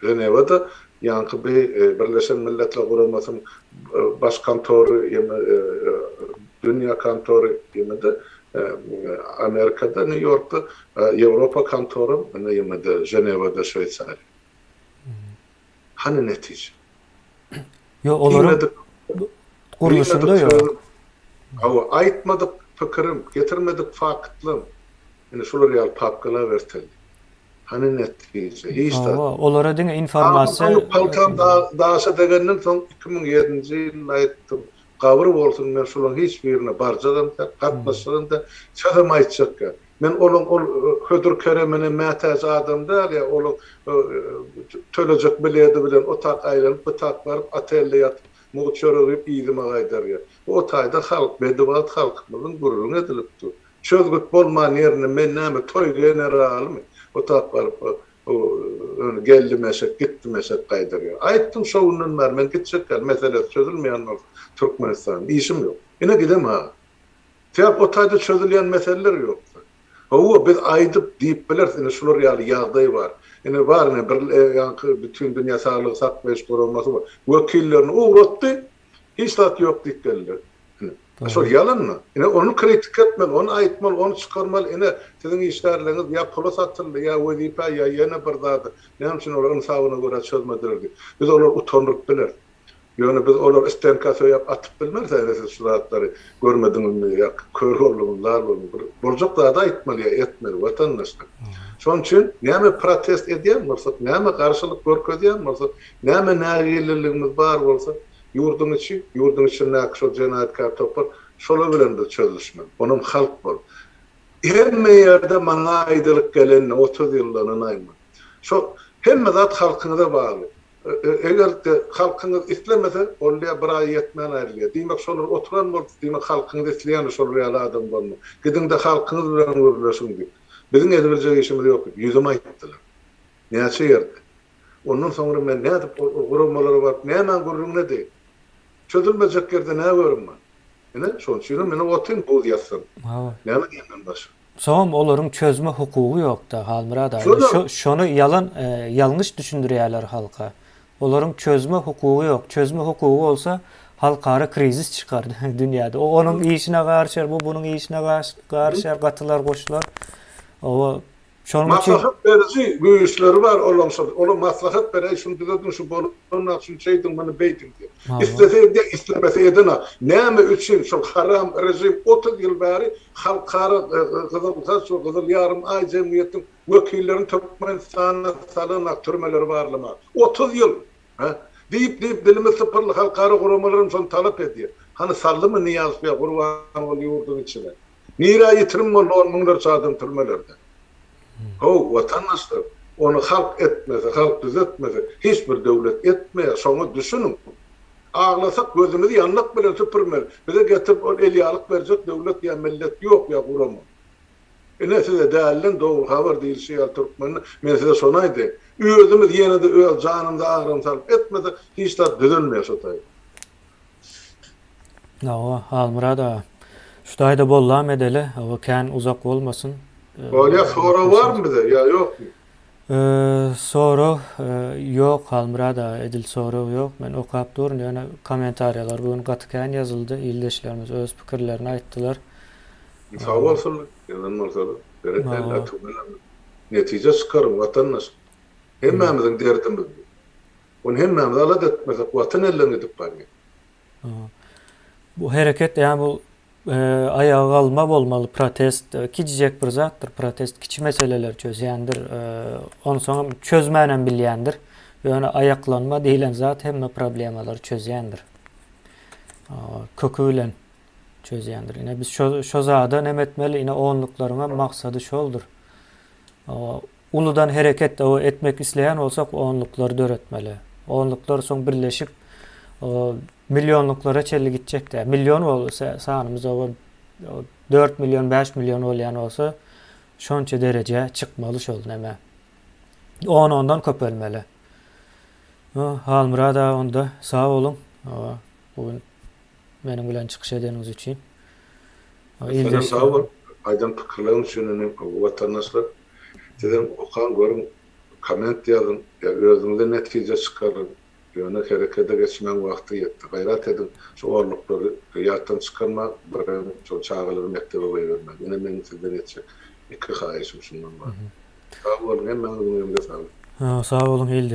Ženewada ýaňky bi Birleşen Milletler Guramasynyň Baş kontory ýa-da Dünýä kontory ýa-da Amerikada Nýu Ýorkda Ýewropa kontoram ýa-da Ženewada Şweýsariýa. Hany netije? Yo olaryň gurluşynda yo. Hawa, aýtmadyk pikirim, getirmedik faktlam. Ine şular ýaly papkalar erteldi. Hany netije? Hiç zat. Hawa, olara diňe informasiýa. Paltam daşa degenden soň iki müň ýedinji ýylda aýtdym. Gabyr bolsun, men şolaň hiç birine barjagam-da, gatnaşjagam-da, sözem aýtjakka. Men olaň ol hödür keremine mätäç adam däl ýa olaň tölejek biledi bilen otak aýlanyp, bitak baryp, otelde ýatyp, mugt çörek iýip, yzyma gaýdarýa. Bu otaýda halk, bedibagt halkymyzyň gürrüň edilip dur. Çözgüt bolman ýerine men näme toý generalymy, otak baryp, Bu öni geldimeşek, gitdimeşek gaýdarýar. Aýtdym, şo günden bäri men gitjek ýaly, meselesi çözülmeýän bolsa Türkmenistanyň, işim ýok. Ine gidem-ha. Sebäp o taýda çözülýän meseleler ýokda. Hawa, biz aýdyp, diýip bileris, ine şular ýaly ýagdaý bar. Ine bar, ine bir ýaňky Bütindünýä Saglygy saklaýyş guramasy bar. Wekillerini ugratdy, Hiç zat ýok diýip geldiler. Ine, şol ýalanmy? Ine, ony kritika etmeli, ony aýtmaly, ony çykarmaly. Ine, siziň işgärleriňiz ýa pula satyldy, ýa wezipä, ýa ýene bir zada. Näme üçin olar ynsabyna görä çözmediler diýip, biz olary utandyryp bileris. Ýöne biz olary stenka söýäp atyp bilmeris, Äre, siz şu zatlary görmediňizmi ýa kör bolduňyz, lal bolduňyz. Bir boljak zady aýtmaly ýa etmeli, watandaşlar. Şonuň üçin näme protest edýän bolsak, näme garşylyk görkezýän bolsak, Näme nägilliligimiz bar bolsa, ýurduň içi, ýurduň içindäki şol jenaýatkär topar, şolar bilen bir çözülişmeli. Onam halk bolup. Hemme ýerde maňa aýdylyp geleni, otuz ýyldanynay men. Şo hemme zat halkyňyza bagly. Eger-de halkyňyz islemese, onda ýa bir aý ýetmän aýrylýar. Diýmek, şolar oturan bolup, diýmek, halkyňyz isleýändir şolar ýaly adam bolmagy. Gidiň-de halkyňyz bilen gürleşiň diýip. Biziň ezibiljek işimiz ýok diýip, ýüzüme aýtdylar. Näçe ýerde. Ondan soňra men nädip ol guramalara baryp nämäň gürrüňinedi? Çözülmejek ýerde nä görüm men? Ine, şonuň üçinem ine otyryn buz ýassam. Hawa. Näme diýenden başga? Soňam olaryň çözme hukugy ýok-da, Halmyrat aga. Indi şo, şony ýalan, ýalňyş düşündirýärler halka. Olaryň çözme hukugy ýok. Çözme hukugy bolsa, halkara krizis çykardy dünýäde. O onuň işine garyşar, bu bunuň işine garyşar, gatylar goşular. Oba, Şonuň üçin Maslahat beriji güýçleri bar olaň şol. Ola maslahat beräý, şuny düzediň, şu bolanok, şuny şeýdiň, muny beýdiň diýip. Islese edýär, islemese edenok. Näme üçin şol haram režim otuz ýyl bäri halkara Gyzyl Haç we Gyzyl Ýarym Aý jemgyýetiň wekillerini Türkmenistana salanok, türmeleri barlamak? Otuz ýyl! Hä? Diýip-diýip dilimiz sypyrly, halkara guramalar hem şony talap edýär. Hany saldymy Nyýazow ýa Gurbanguly ýurduň içine? Nirä ýitirim boldy on müňlerçe adam türmelerde? How, watandaşlar, ony halk etmese, halk düzetmese, hiç bir döwlet etmeýär, şoňa düşüniň. Aglasak gözümizi ýandak bilen süpürmeli. Bize getirip ol elýalyk berjek döwlet ýa millet ýok ýa guraman. Ine size dälden dogry habar diýilşi ýaly türkmende men size şony aýdaýyn, özümiz ýene-de öz janymyza agram salyp etmesek hiç zat düzelmeýär şo taýdan. Hawa, Halmyrat aga. Şu taýda boldam edeli, hawa kän uzak bolmasyn. Bolýar, sorag barmy bize ýa ýokmy? Sorag ýok Halmyrat aga, edil sorag ýok. Men okap durun, ýöne kommentariýalar bu gün gaty kän ýazyldy, ildeşlerimiz öz pikirlerini aýtdylar. Sag bolsunlar, ýazan bolsalar. Berekella, tüweleme. Netije çykaryň, watandaş. Hemmämiziň derdimiz bu. Ol hemmämiz alada etmesek, Watan elden gidip barýar. Bu hereket, ýa bu aýaga galma bolmaly, protest, kiçijek bir zatdyr, protest kiçi meseleleri çözýändir, onsoňam çözmänem bilýändir, ýöne aýaklanma diýlen zat hemme problemalary çözýändir, köki bilen çözýändir. Ine, biz şo, şo zada näme etmeli? Ine, onluklaryňam maksady şoldur. Uludan hereket etmek isleýän bolsak onluklary döretmeli. Onluklar soň birleşip millionluklara çenli gitjek däl. Million bolsa sanymyz oba dört million bäş million bolýan bolsa şonça derejä çykmaly şol näme. On ondan köpelmeli. Halmyrat aga onda sag boluň bu gün meniň bilen çykyş edeniňiz üçin. Ildeş sag bol aýdan pikirleriň üçin indi watandaşlar Sizem okaň görüň komment ýazyň we özüňize netije çykaryň. Ýöne herekede geçmäň wagty ýetdi. Gaýrat ediň şu orluklary ýatdan çykarmaň birem şol çagalary mekdebe goýbermäň. Ine meň sizden etjek iki haýyşym şundan bar. Sag boluň hemmäňiziň öňüňize saglyk. Sag boluň ilde.